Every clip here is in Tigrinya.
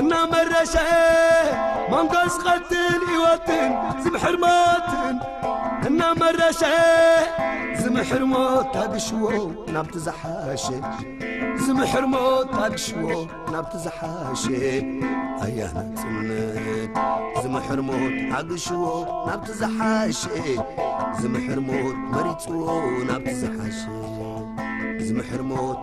እናመረሸኤ መንጎስ ቐትል ህይወትን ዝምሕር ሞትን እናመረሸኤ ዝምሕር ሞት ኣግሽዎ ናብቲ ዝሓሸ ዝምሕር ሞት ኣግሽዎ ናብቲ ዝሓሸ ኣያ ናጽነት ዝምሕር ሞት ኣግሽዎ ናብቲ ዝሓሸ ዝምሕር ሞት መሪጽዎ ናብቲ ዝሓሸ ዝምሕር ሞት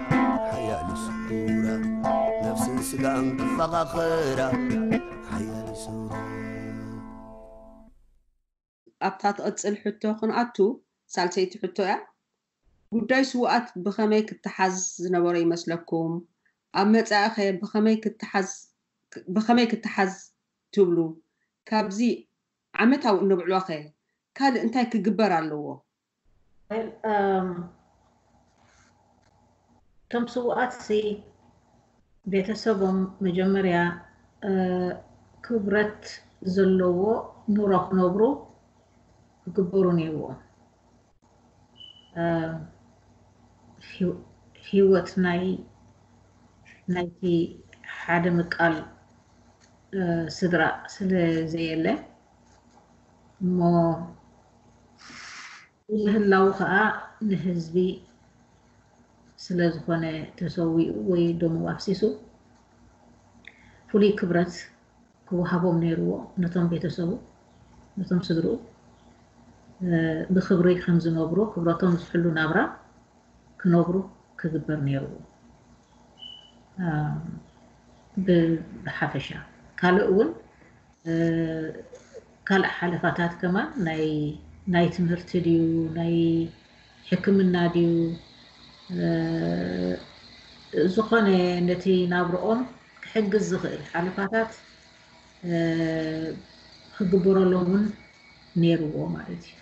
ኣብታ ትቕጽል ሕቶ ክንኣቱ፣ ሳልሰይቲ ሕቶ እያ፣ ጉዳይ ስዉኣት ብኸመይ ክተሓዝ ዝነበሮ ይመስለኩም? ኣብ መጻኢኸ ብኸመይ ክተሓዝ ብኸመይ ክተሓዝ ትብሉ? ካብዚ ዓመታዊ እነብዕሎኸ ካልእ እንታይ ክግበር ኣለዎ? እቶም ስውኣት ሲ ቤተሰቦም መጀመርያ ክብረት ዘለዎ ኑሮ ክነብሩ ክግበሩ ነይርዎም። ሂወት ናይ ናይቲ ሓደ ምቃል ስድራ ስለ ዘየለ እሞ ምህላዉ ከኣ ንህዝቢ ስለ ዝኾነ ተሰዊኡ ወይ ደሙ ኣፍሲሱ ፍሉይ ክብረት ክወሃቦም ነይርዎ ነቶም ቤተሰቡ ነቶም ስድርኡ ብክብሪ ከም ዝነብሩ ክብረቶም ዝሕሉ ናብራ ክነብሩ ክግበር ነይርዎ ብሓፈሻ ካልእ እውን ካልእ ሓለፋታት ከማን ናይ ናይ ትምህርቲ ድዩ ናይ ሕክምና ድዩ ዝኾነ ነቲ ናብርኦም ክሕግዝ ዝኽእል ሓለፋታት ክግበረሎም እውን ነይርዎ ማለት እዩ።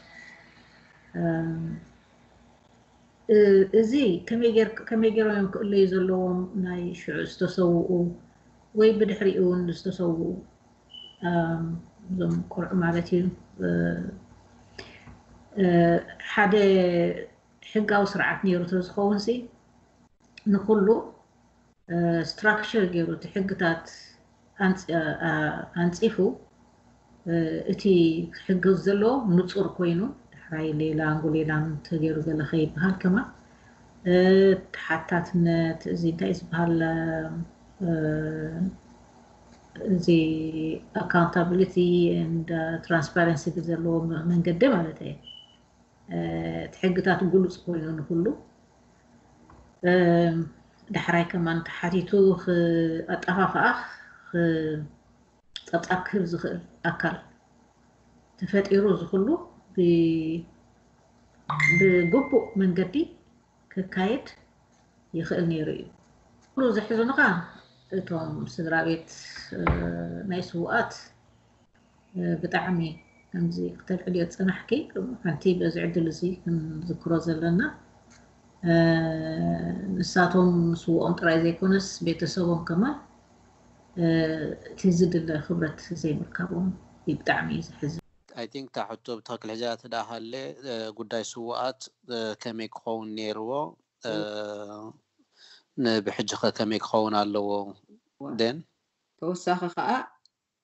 እዚ ከመይ ገይሮም እዮም ክእለዩ ዘለዎም ናይ ሽዑ ዝተሰውኡ ወይ ብድሕሪኡ ውን ዝተሰውኡ እዞም ቆልዑ ማለት እዩ ሓደ ሕጋዊ ስርዓት ነይሩ ተዝኸውን ሲ ንኩሉ ስትራክቸር ገይሩ እቲ ሕግታት ኣንፂፉ እቲ ክሕገዝ ዘለዎ ንጹር ኮይኑ ዳሕራይ ሌላንጉ ሌላንግ ተገይሩ ገለ ከይበሃል ከማን ተሓታትነት እዚ እንታይ ዝበሃል እዚ ኣካውንታብሊቲ ኤንድ ትራንስፓረንሲ ብዘለዎ መንገዲ ማለት እየ እቲ ሕግታት ግሉፅ ኮይኑ ንኩሉ ዳሕራይ ከማን ተሓቲቱ ኣጠፋፍኣ ጸብጻብ ክህብ ዝኽእል ኣካል ተፈጢሩ እዚ ኩሉ ብግቡእ መንገዲ ክካየድ ይኽእል ነይሩ እዩ። ኩሉ ዘሕዝኑኻ እቶም ስድራ ቤት ናይ ስውኣት ብጣዕሚ ከምዚ ክተልዕልዮ ዝጸናሕኪ ሓንቲ በዚ ዕድል እዚ ክንዝክሮ ዘለና ንሳቶም ስውኦም ጥራይ ዘይኮነስ ቤተሰቦም ከማን እቲ ዝድለ ክብረት ዘይምርካቦም እዩ ብጣዕሚ ዘሕዝን። I think እታ ሕቶ ብትኽክል ሒዘያ ተድኣ ሃልየ ጉዳይ ስውኣት ከመይ ክኸውን ኔርዎ ን ብሕጂኸ ከመይ ክኸውን ኣለዎ then? ተወሳኺ ከኣ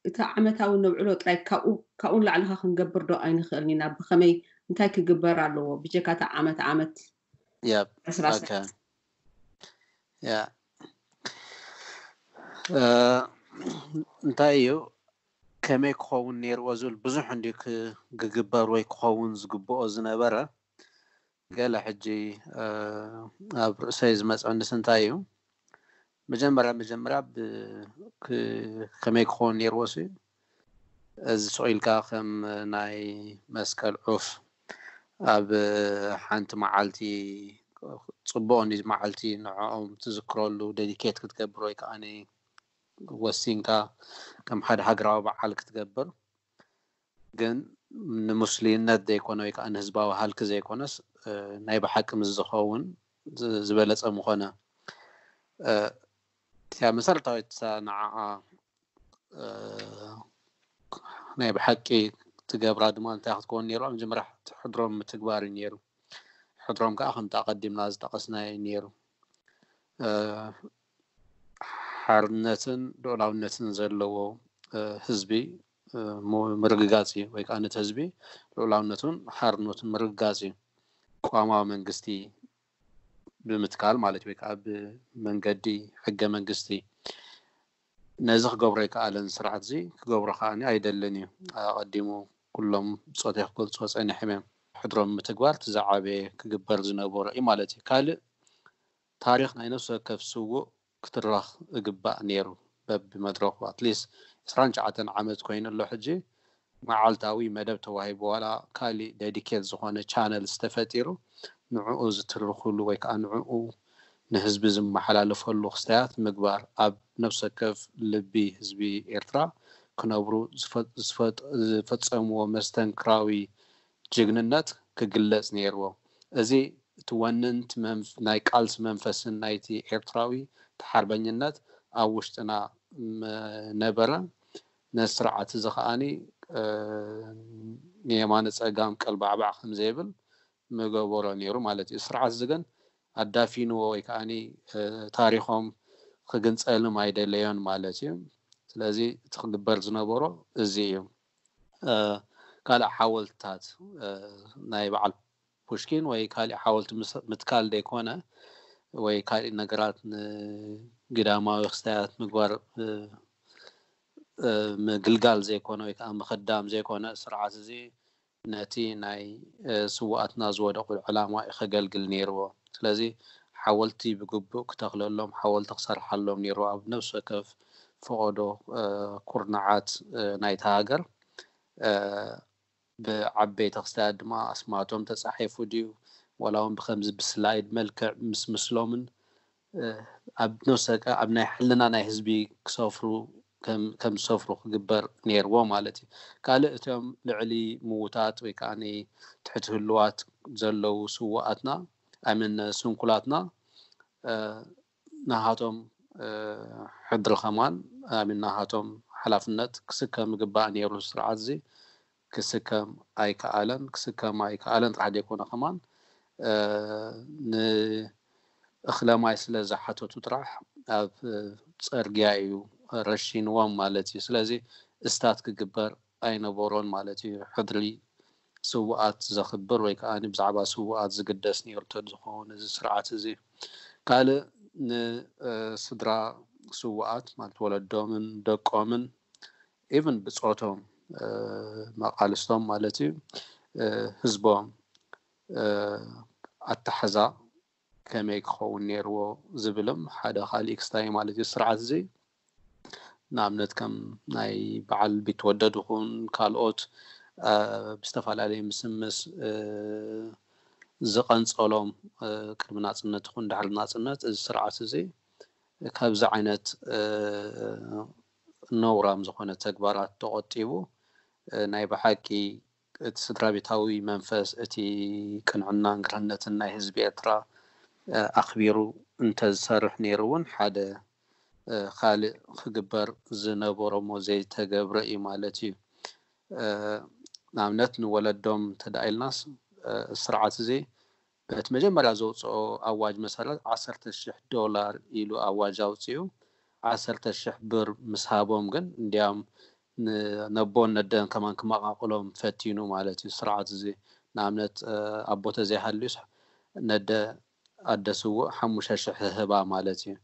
እቲ ዓመታዊ ነብዕሎ ጥራይ ካብኡ ካብኡ ንላዕሊ ከ ክንገብር ዶ ኣይንኽእልን ኢና ብኸመይ እንታይ ክግበር ኣለዎ ብጀካ እቲ ዓመት ዓመት Yep. Okay. Yeah. እንታይ እዩ ከመይ ክኸውን ነይርዎ ዝብል ብዙሕ እንዲ ክግበር ወይ ክኸውን ዝግብኦ ዝነበረ ገለ ሕጂ ኣብ ርእሰይ ዝመፅዕንስ እንታይ እዩ መጀመርያ መጀመርያ ከመይ ክኸውን ኔርዎ ሲ እዚ ሱቕ ኢልካ ከም ናይ መስቀል ዑፍ ኣብ ሓንቲ መዓልቲ ጽቡቕ ን መዓልቲ ንዕኦም ትዝክረሉ ደዲኬት ክትገብር ወይ ከኣ ወሲንካ ከም ሓደ ሃገራዊ በዓል ክትገብር ግን ንሙስልይነት ዘይኮነ ወይ ከኣ ንህዝባዊ ሃልኪ ዘይኮነስ ናይ ብሓቂ ምስ ዝኸውን ዝበለጸ ምኾነ። እቲኣ መሰረታዊት እሳ ንዓኣ ናይ ብሓቂ ትገብራ ድማ እንታይ ክትከውን ነይርዋ መጀመርያ ሕድሮም ምትግባር እዩ ነይሩ። ሕድሮም ከኣ ከምቲ ኣቐዲምና ዝጠቐስናዮ እዩ ነይሩ። ሓርነትን ልኡላውነትን ዘለዎ ህዝቢ ምርግጋፅ እዩ። ወይ ከዓ ነቲ ህዝቢ ልኡላውነቱን ሓርነቱን ምርግጋፅ እዩ። ቅዋማዊ መንግስቲ ብምትካል ማለት ወይ ከዓ ብመንገዲ ሕገ መንግስቲ ነዚ ክገብሮ ኣይከኣለን ስርዓት እዚ ክገብሮ ከዓ ኣይደልን እዩ። ኣቐዲሙ ኩሎም ብፆተይ ክገልፅዎ ፀኒሖም እዮም። ሕድሮም ምትግባር እቲ ዝዓበየ ክግበር ዝነበሮ እዩ ማለት እዩ። ካልእ ታሪኽ ናይ ነፍሲ ወከፍ ስዉእ ክትረኽ እግባእ ኔሩ በቢ መድረኹ at least ዕስራን ትሽዓተን ዓመት ኮይኑ ኣሎ ሕጂ መዓልታዊ መደብ ተዋሂቡ ዋላ ካሊእ ደዲኬት ዝኾነ ቻነልስ ተፈጢሩ ንዑኡ ዝትርኽሉ ወይ ከኣ ንዑኡ ንህዝቢ ዝመሓላለፈሉ ክስታያት ምግባር ኣብ ነፍሲ ወከፍ ልቢ ህዝቢ ኤርትራ ክነብሩ ዝፈጸምዎ መስተንክራዊ ጅግንነት ክግለጽ ነይርዎ። እዚ እቲ ወንንት ናይ ቃልሲ መንፈስን ናይቲ ኤርትራዊ ተሓርበኝነት ኣብ ውሽጥና ምነበረ። ነዚ ስርዓት እዚ ከኣ ንየማነ ጸጋም ቀልባዕባዕ ከም ዘይብል ምገበሮ ነይሩ ማለት እዩ። እዚ ስርዓት እዚ ግን ኣዳፊንዎ ወይ ከኣ ታሪኾም ክግንጸልም ኣይደለዮን ማለት እዩ። ስለዚ እቲ ክግበር ዝነበሮ እዚ እዩ። ካልእ ሓወልትታት ናይ በዓል ፑሽኪን ወይ ካሊእ ሓወልቲ ምትካል ዘይኮነ ወይ ካሊእ ነገራት ንግዳማዊ ክስታያት ምግባር ምግልጋል ዘይኮነ ወይ ከዓ ምክዳም ዘይኮነ ስርዓት እዚ ነቲ ናይ ስዋኣትና ዝወደቁሉ ዕላማ እዩ ከገልግል ነይርዎ ስለዚ ሓወልቲ ብግቡእ ክተክለሎም ሓወልቲ ክሰርሓሎም ነይርዎ ኣብ ነብሲ ወከፍ ፈቐዶ ኩርናዓት ናይታ ሃገር ብዓበይቲ ክስታያት ድማ ኣስማቶም ተጻሒፉ ድዩ ዋላ ውን ብከምዚ ብስላይድ መልክዕ ምስ ምስሎምን ኣብ ነብሰካ ኣብ ናይ ሕልና ናይ ህዝቢ ክሰፍሩ ከም ዝሰፍሩ ክግበር ነይርዎ ማለት እዩ ካልእ እቶም ልዕሊ ምውታት ወይ ከዓ ትሕቲ ህልዋት ዘለዉ ስዋኣትና ኣይመን ስንኩላትና ናሃቶም ሕድሪ ከማን ኣሚን ናሃቶም ሓላፍነት ክስከም ይግባእ ኔሩ እዚ ስርዓትዚ ክስከም ኣይካኣለን ክስከም ኣይካኣለን ጥራሕ ደይኮነ ከማን ን እክለ ማይ ስለ ዝሓተቱ ጥራሕ ኣብ ጸርግያ ኢዩ ረሺንዎም ማለት ኢዩ ስለዚ እስታት ክግበር ኣይነበሮን ማለት ኢዩ ሕድሪ ስውኣት ዘኽብር ወይ ከኣ ብዛዕባ ስውኣት ዝግደስ ኔሩ እንተዝኸውን እዚ ስርዓት እዚ። ካልእ ንስድራ ስውኣት ማለት ወለዶምን ደቆምን ኢቭን ብጾቶም መቓልስቶም ማለት እዩ ህዝቦም ኣታሕዛ ከመይ ክኸውን ኔርዎ ዝብልም ሓደ ካልእ ክስታይ ማለት እዩ። እዚ ስርዓት እዚ ንኣብነት ከም ናይ በዓል ቢትወደድ ይኹን ካልኦት ብዝተፈላለየ ምስምስ ዝቐንጸሎም ቅድሚ ናጽነት ይኹን ድሕሪ ናጽነት እዚ ስርዓት እዚ ካብዚ ዓይነት ነውራም ዝኾነ ተግባራት ተቖጢቡ ናይ ብሓቂ እቲ ስድራቤታዊ መንፈስ፣ እቲ ቅንዕናን ግርህነትን ናይ ህዝቢ ኤርትራ ኣኽቢሩ እንተዝሰርሕ ነይሩ እውን ሓደ ካልእ ክግበር ዝነበሮ'ሞ ዘይተገብረ እዩ ማለት እዩ። ንኣብነት ንወለዶም እንተድኣ ኢልናስ፣ እዚ ስርዓት'ዚ በቲ መጀመርያ ዘውጽኦ ኣዋጅ መሰረት ዓሰርተ ሽሕ ዶላር ኢሉ ኣዋጅ ኣውጺኡ ዓሰርተ ሽሕ ብር ምስ ሃቦም ግን እንድያም ነቦን ነደን ከማን ክመቓቕሎም ፈቲኑ ማለት እዩ ስርዓት እዚ ንኣብነት ኣቦ ተዘይሃልዩስ ነደ ኣደ ስውእ ሓሙሽተ ሽሕ ህህባ ማለት እዩ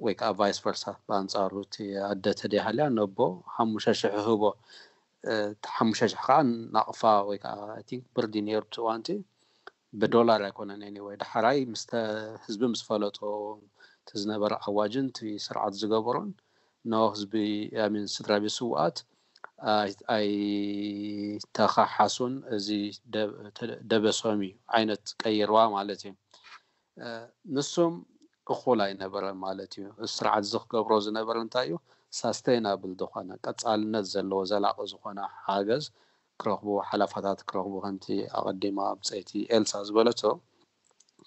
ወይ ከኣ ቫይስ ቨርሳ ብኣንጻሩ እቲ ኣደ ተደይሃልያ ነቦ ሓሙሽተ ሽሕ ህህቦ እቲ ሓሙሽተ ሽሕ ከኣ ናቕፋ ወይ ከኣ ኣይ ቲንክ ብርድ ኢዩ ነይሩ እቲ እዋንቲ ብዶላር ኣይኮነን ኤኒወይ ዳሕራይ ምስተ ህዝቢ ምስ ፈለጦ እቲ ዝነበረ ኣዋጅን እቲ ስርዓት ዝገበሮን ኖ ህዝቢ ኣሚን ስድራ ቤት ስውኣት ኣይተኻሓሱን እዚ ደበሶም እዩ ዓይነት ቀይርዋ ማለት እዩ ንሱም እኹል ኣይነበረን ማለት እዩ። እዚ ስርዓት እዚ ክገብሮ ዝነበረ እንታይ እዩ? ሳስተይናብል ዝኾነ፣ ቀጻልነት ዘለዎ፣ ዘላቂ ዝኾነ ሓገዝ ክረኽቡ፣ ሓላፋታት ክረኽቡ፣ ከምቲ ኣቐዲማ ብጸይቲ ኤልሳ ዝበለቶ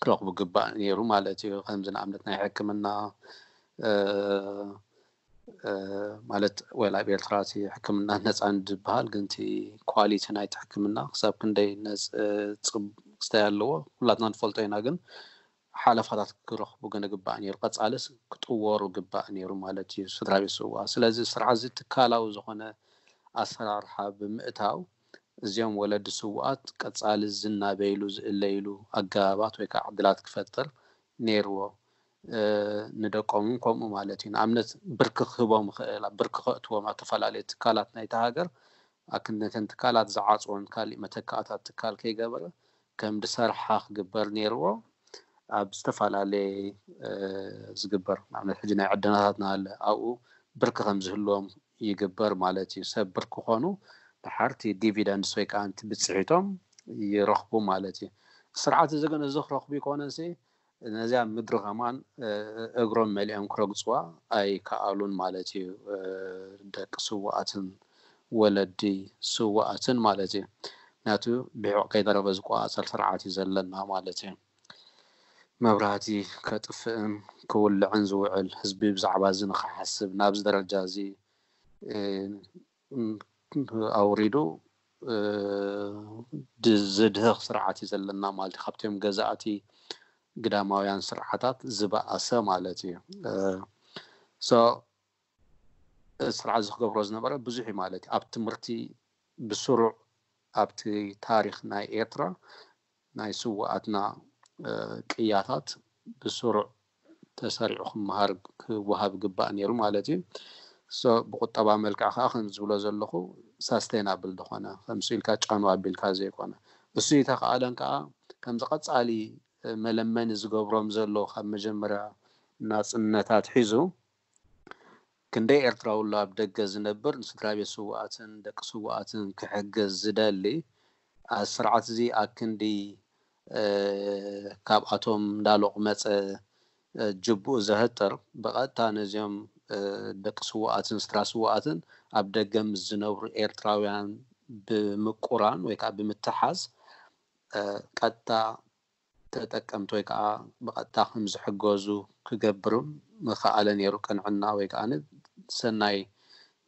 ክረኽቡ ግባእ ነይሩ ማለት እዩ። ከምዚ ንኣብነት ናይ ሕክምና፣ ማለት ወል ኣብ ኤርትራ እቲ ሕክምና ነጻ እንድበሃል ግን እቲ ኳሊቲ ናይቲ ሕክምና ክሳብ ክንደይ ጽብቅስታይ ኣለዎ ኩላትና ንፈልጦ ኢና ግን ሓለፋታት ክረኽቡ ግን ግባእ ነይሩ ቀጻልስ ክጥወሩ ግባእ ነይሩ ማለት እዩ ስድራቤት ስዋ ስለዚ ስርዓዚ ትካላዊ ዝኾነ ኣሰራርሓ ብምእታው እዚኦም ወለዲ ስውኣት ቀጻሊ ዝናበይሉ ዝእለይሉ ኣገባባት ወይ ከዓ ዕድላት ክፈጥር ነይርዎ ንደቆም እውን ከምኡ ማለት እዩ። ንኣብነት ብርኪ ክህቦም ይኽእል፣ ኣብ ብርኪ ከእትዎም ኣብ ተፈላለየ ትካላት ናይታ ሃገር ኣክን ነተን ትካላት ዝዓጽወን ካሊእ መተካእታ ትካል ከይገበረ ከም ድሰርሓ ክግበር ነይርዎ። ኣብ ዝተፈላለየ ዝግበር ንኣብነት ሕጂ ናይ ዕደናታት ናሃለ ኣብኡ ብርኪ ከም ዝህልዎም ይግበር ማለት እዩ። ሰብ ብርኪ ክኾኑ ድሓር እቲ ዲቪደንድስ ወይ ከኣ እቲ ብጽሒቶም ይረኽቡ ማለት እዩ። ስርዓት እዚ ግን እዚ ክረኽቡ ኣይኮነንሲ ነዚኣ ምድሪ ኸማን እግሮም መሊኦም ክረግጽዋ ኣይከኣሉን ማለት እዩ፣ ደቂ ስዉኣትን ወለዲ ስዉኣትን ማለት እዩ፣ ምኽንያቱ ብሒቝ ከይተረፈ ዝቈጻጸር ስርዓት እዩ ዘለና ማለት እዩ፣ መብራህቲ ከጥፍእን ክውልዕን ዝውዕል ህዝቢ ብዛዕባ እዚ ንኽሓስብ ናብዚ ደረጃ እዚ ኣውሪዱ ዘድህኽ ስርዓት እዩ ዘለና ማለት እዩ። ካብቶም ገዛእቲ ግዳማውያን ስርዓታት ዝበኣሰ ማለት እዩ። እዚ ስርዓት እዚ ክገብሮ ዝነበረ ብዙሕ እዩ ማለት እዩ። ኣብ ትምህርቲ ብስሩዕ ኣብቲ ታሪኽ ናይ ኤርትራ ናይ ስውኣትና ቅያታት ብስሩዕ ተሰሪዑ ክመሃር ክወሃብ ይግባእ ኔሩ ማለት እዩ። so ብቁጠባዊ መልክዕ ከኣ ከምዚ ዝብሎ ዘለኹ sustainable ዝኾነ ከምሱ ኢልካ ጫኑ ኣቢልካ ዘይኮነ እሱ እይተኸኣለን ከኣ ከምዚ ቀጻሊ መለመኒ ዝገብሮም ዘሎ ካብ መጀመርያ ናጽነት ኣትሒዙ ክንደይ ኤርትራዊ ኣሎ ኣብ ደገ ዝነብር ንስድራቤት ስዉኣትን ደቂ ስዉኣትን ክሕግዝ ዝደሊ ኣዚ ስርዓት እዚ ኣክንዲ ካብ ኣቶም እንዳሎቅመጸ ጅብኡ ዘሀጥር ብቀጥታ ነዚኦም ደቂ ስዉኣትን ስድራ ስዉኣትን ኣብ ደገ ምስ ዝነብሩ ኤርትራውያን ብምቁራን ወይ ከኣ ብምትሓዝ ቀጥታ ተጠቀምቲ ወይ ከኣ ብቐጥታ ከም ዝሕገዙ ክገብር ምኸኣለ ነይሩ፣ ቅንዕና ወይ ከኣ ሰናይ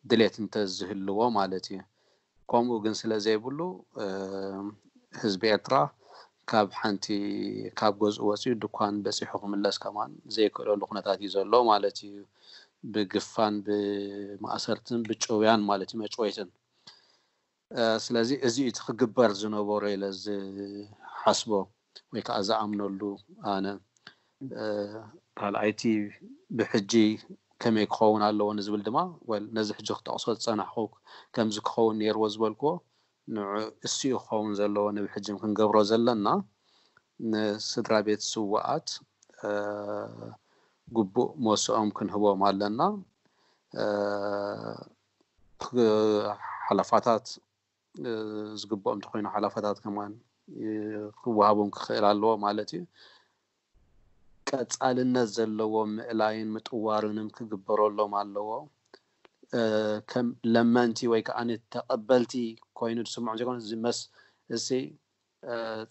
ድሌት እንተ ዝህልዎ ማለት እዩ። ከምኡ ግን ስለ ዘይብሉ፣ ህዝቢ ኤርትራ ካብ ሓንቲ ካብ ገዝኡ ወጺኡ ድኳን በጺሑ ክምለስ ከማን ዘይክእለሉ ኩነታት እዩ ዘሎ ማለት እዩ፣ ብግፋን ብማእሰርትን ብጭውያን ማለት እዩ፣ መጭወይትን። ስለዚ እዚ እዩ እቲ ክግበር ዝነበሮ ኢለ ዝሓስቦ ወይ ከዓ ዝኣምነሉ ኣነ። ካልኣይቲ ብሕጂ ከመይ ክኸውን ኣለዎ ንዝብል ድማ ወል ነዚ ሕጂ ክጠቕሶ ዝፀናሕኹ ከምዚ ክኸውን ነይርዎ ዝበልክዎ ንዑ እሱ እዩ ክኸውን ዘለዎ ንብሕጂ ክንገብሮ ዘለና ንስድራ ቤት ስውኣት ግቡእ ሞስኦም ክንህቦም ኣለና። ሓላፋታት ዝግብኦም እንተኾይኑ ሓላፋታት ከማን ክወሃቦም ክኽእል ኣለዎ ማለት እዩ። ቀፃልነት ዘለዎ ምእላይን ምጥዋርንም ክግበረሎም ኣለዎ። ከም ለመንቲ ወይ ከዓኒ ተቐበልቲ ኮይኑ ዝስምዖም ዘይኮነስ ዝመስ እሲ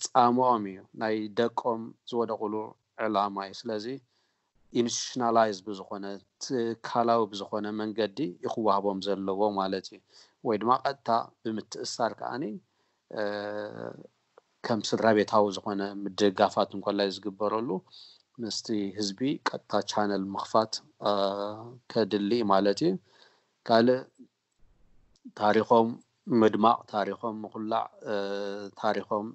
ጻምኦም እዩ ናይ ደቆም ዝወደቁሉ ዕላማ እዩ ስለዚ ኢንስቲቱሽናላይዝ ብዝኮነ ትካላዊ ብዝኮነ መንገዲ እዩ ክዋህቦም ዘለዎ ማለት እዩ ወይ ድማ ቀጥታ ብምትእስሳር ከኣ ከም ስድራቤታዊ ዝኮነ ምድግጋፋት እንኮላይ ዝግበረሉ ምስቲ ህዝቢ ቀጥታ ቻነል ምክፋት ከድሊ እዩ ማለት እዩ ካልእ ታሪኾም ምድማቕ፣ ታሪኾም ምኹላዕ፣ ታሪኾም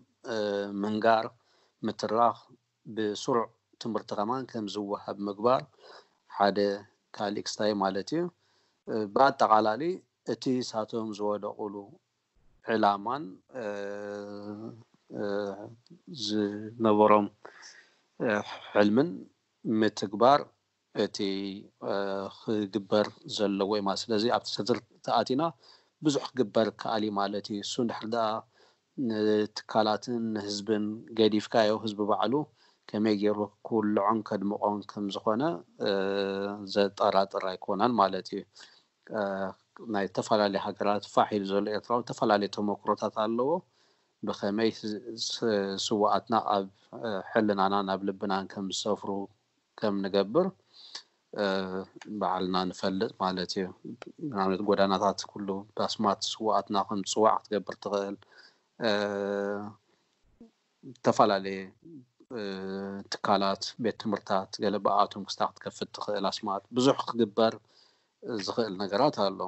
ምንጋር፣ ምትራኽ ብስሩዕ ትምህርቲ ከማን ከም ዝወሃብ ምግባር ሓደ ካልእ ክስታይ ማለት እዩ። ብኣጠቓላሊ እቲ ንሳቶም ዝወደቑሉ ዕላማን ዝነበሮም ሕልምን ምትግባር እቲ ክግበር ዘለዎ እዩ ማለት ስለዚ ኣብቲ ዝርዝር ተኣቲና ብዙሕ ክግበር ክኣል እዩ ማለት እዩ እሱ እንድሕር ድኣ ንትካላትን ንህዝብን ገዲፍካዮ ህዝቢ ባዕሉ ከመይ ጌሩ ክውልዖን ከድምቆን ከም ዝኾነ ዘጠራጥር ኣይኮነን ማለት እዩ ናይ ዝተፈላለዩ ሃገራት ፋሕ ኢሉ ዘሎ ኤርትራዊ ዝተፈላለዩ ተሞክሮታት ኣለዎ ብኸመይ ስውኣትና ኣብ ሕልናናን ኣብ ልብናን ከም ዝሰፍሩ ከም ንገብር ባዕልና ንፈልጥ ማለት እዩ። ንኣብነት ጎዳናታት ኩሉ ባስማት ስውኣትና ከም ዝጽዋዕ ክትገብር ትኽእል። ዝተፈላለየ ትካላት ቤት ትምህርታት ገለ ብኣኣቶም ክስታ ክትከፍት ትኽእል ኣስማት ብዙሕ ክግበር ዝኽእል ነገራት ኣሎ።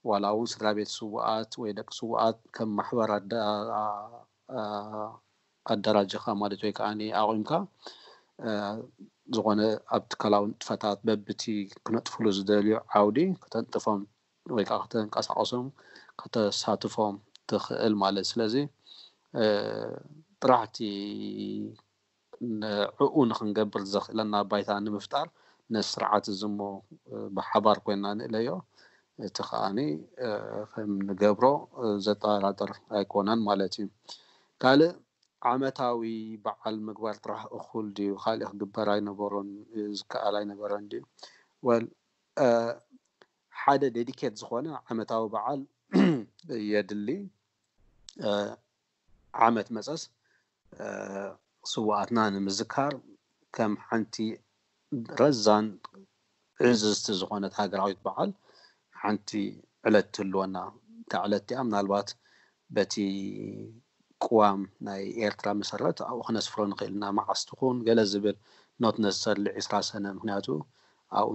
ዋላ እውን ስድራ ቤት ስውኣት ወይ ደቂ ስውኣት ከም ማሕበር ኣደራጂኻ ማለት ወይ ከኣ ኣቑምካ ዝኾነ ኣብ ትካላዊ ንጥፈታት በብቲ ክነጥፍሉ ዝደልዩ ዓውዲ ከተንጥፎም ወይ ከዓ ከተንቀሳቐሶም ከተሳትፎም ትኽእል ማለት ስለዚ ጥራሕ እቲ ንዕኡ ንኽንገብር ዘኽእለና ባይታ ንምፍጣር ነዚ ስርዓት እዚ እሞ ብሓባር ኮይንና ንእለዮ፣ እቲ ከኣ ከም ንገብሮ ዘጠራጥር ኣይኮነን ማለት እዩ። ካልእ ዓመታዊ በዓል ምግባር ጥራሕ እኹል ድዩ? ካልእ ክግበር ኣይነበሮን? ዝከኣል ኣይነበረን ድዩ? Well ሓደ ዴዲኬት ዝኾነ ዓመታዊ በዓል የድሊ። ዓመት መጸስ ስውኣትና ንምዝካር ከም ሓንቲ ረዛን ዕዝዝቲ ዝኾነት ሃገራዊት በዓል ሓንቲ ዕለት ትህልወና። እታ ዕለት እቲኣ ምናልባት በቲ ቅዋም ናይ ኤርትራ መሰረት ኣብኡ ክነስፍሮ ንኽእል ኢና። መዓስ ትኹን ገለ ዝብል ኖት ነሰስርሊ ዕስራ ሰነ ምኽንያቱ ኣብኡ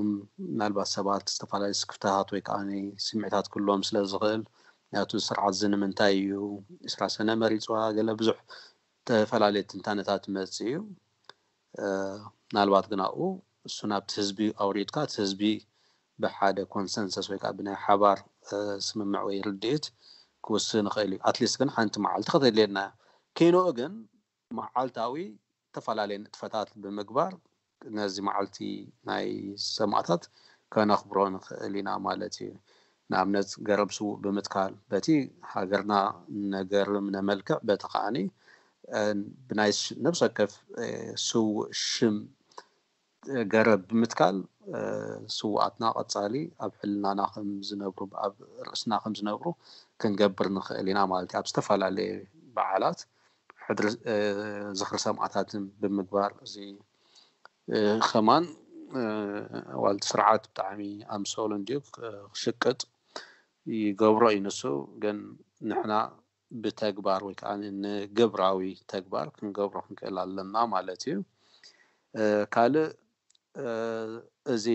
ምናልባት ሰባት ዝተፈላለዩ ስክፍታታት ወይ ከኣ ስምዒታት ክህልዎም ስለ ዝኽእል ናቱ ስርዓት እዚ ንምንታይ እዩ ዕስራ ሰነ መሪጽዋ ገለ ብዙሕ ተፈላለየ ትንታነታት ይመጽእ እዩ ምናልባት ግን ኣብኡ እሱ ናብቲ ህዝቢ ኣውሪድካ እቲ ህዝቢ ብሓደ ኮንሰንሰስ ወይ ከዓ ብናይ ሓባር ስምምዕ ወይ ርድኢት ክውስን ይኽእል እዩ ኣትሊስት ግን ሓንቲ መዓልቲ ከተድልየና እያ ኪንኡ ግን መዓልታዊ እተፈላለየ ንጥፈታት ብምግባር ነዚ መዓልቲ ናይ ሰማእታት ከነኽብሮ ንኽእል ኢና ማለት እዩ። ንኣብነት ገረብ ስዉእ ብምትካል በቲ ሃገርና ነገርም ነመልክዕ በቲ ከኣ ብናይ ነብሰወከፍ ስዉእ ሽም ገረብ ብምትካል ስውኣትና ቀጻሊ ኣብ ሕልናና ከም ዝነብሩ ኣብ ርእስና ከም ዝነብሩ ክንገብር ንኽእል ኢና ማለት እዩ። ኣብ ዝተፈላለየ በዓላት ሕድሪ ዝኽሪ ሰማእታትን ብምግባር እዚ ከማን ዋላ እቲ ስርዓት ብጣዕሚ ኣምሰሉ እንድዩ ክሽቅጥ ይገብሮ እዩ ንሱ ግን ንሕና ብተግባር ወይ ከኣ ንግብራዊ ተግባር ክንገብሮ ክንክእል ኣለና ማለት እዩ። ካልእ እዚ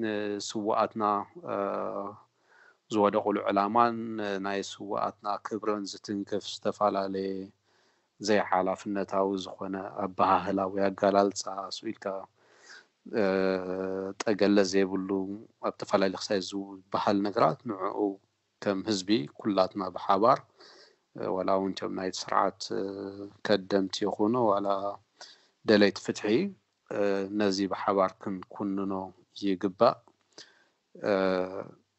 ንስዉኣትና ዝወደቑሉ ዕላማን ናይ ስዉኣትና ክብርን ዝትንክፍ ዝተፈላለየ ዘይሓላፍነታዊ ዝኾነ ኣበሃህላ ወይ ኣገላልጻ ኣስዊልካ ጠገለ ዘይብሉ ኣብ ተፈላለየ ክሳይ ዝበሃል ነገራት ንዕኡ ከም ህዝቢ ኩላትና ብሓባር ዋላ ውን እቶም ናይቲ ስርዓት ከደምቲ ይኹኑ ዋላ ደለይቲ ፍትሒ ነዚ ብሓባር ክንኩንኖ ይግባእ።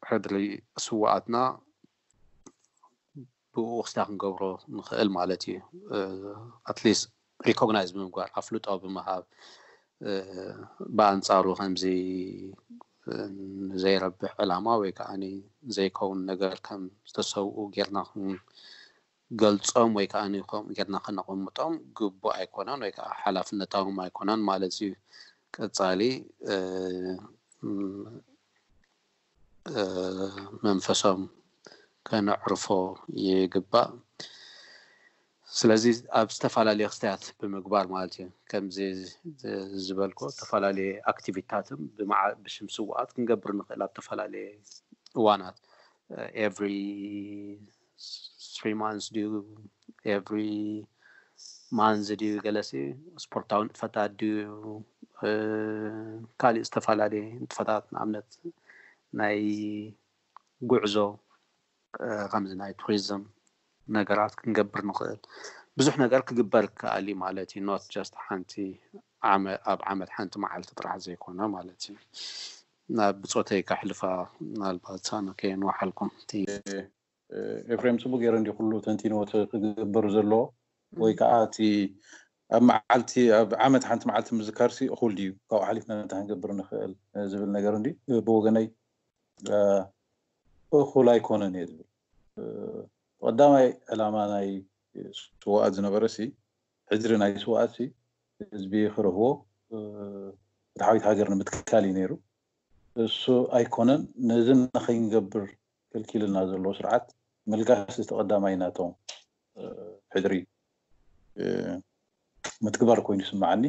ሕድሪ ስውኣትና ብእኡ ክስታ ክንገብሮ ንኽእል ማለት እዩ። ኣትሊስት ሪኮግናይዝ ብምግባር ኣፍልጦ ብምሃብ ብኣንጻሩ ከምዚ ዘይረብሕ ዕላማ ወይ ከዓ ዘይከውን ነገር ከም ዝተሰብኡ ጌርና ክንገልጾም ወይ ከዓ ከምኡ ጌርና ከነቐምጦም ግቡእ ኣይኮነን ወይ ከዓ ሓላፍነታዎም ኣይኮነን ማለት እዩ። ቀጻሊ መንፈሶም ከነዕርፎ ይግባእ። ስለዚ ኣብ ዝተፈላለየ ክስታያት ብምግባር ማለት እዩ ከምዚ ዝበልኮ ዝተፈላለየ ኣክቲቪታትም ብሽም ስዋኣት ክንገብር ንኽእል ኣብ ተፈላለየ እዋናት ኤቭሪ ስሪ ማንዝ ድዩ ኤቭሪ ማንዝ ድዩ ገለሲ ስፖርታዊ ንጥፈታት ድዩ ካሊእ ዝተፈላለየ ንጥፈታት ንኣብነት ናይ ጉዕዞ ከምዚ ናይ ቱሪዝም ነገራት ክንገብር ንኽእል ብዙሕ ነገር ክግበር ከኣል እዩ ማለት እዩ ኖት ጀስት ሓንቲ ኣብ ዓመት ሓንቲ መዓልቲ ጥራሕ ዘይኮነ ማለት እዩ ናብ ብጾተይ ከሕልፋ ምናልባት ኣነ ከየንውሓልኩም እቲ። ኤፍሬም ጽቡቅ ጌሩ እንድዩ ኩሉ ተንቲንዎ እቲ ክግበር ዘለዎ ወይ ከኣ እቲ ኣብ መዓልቲ ኣብ ዓመት ሓንቲ መዓልቲ ምዝካርሲ እኹል ድዩ ካብኡ ሓሊፍና እንታይ ክንገብር ንኽእል ዝብል ነገር እንድዩ ብወገነይ እኹል ኣይኮነን እየ ዝብል እቲ ቀዳማይ ዕላማ ናይ ስውኣት ዝነበረሲ ሕድሪ ናይ ስውኣትሲ ህዝቢ ክረህዎ ፍትሓዊት ሃገር ንምትካል እዩ ነይሩ እሱ ኣይኮነን ነዚ ንኸይንገብር ከልኪሉና ዘሎ ስርዓት ምልጋስ እቲ ቀዳማይ ናቶም ሕድሪ ምትግባር ኮይኑ ይስምዓኒ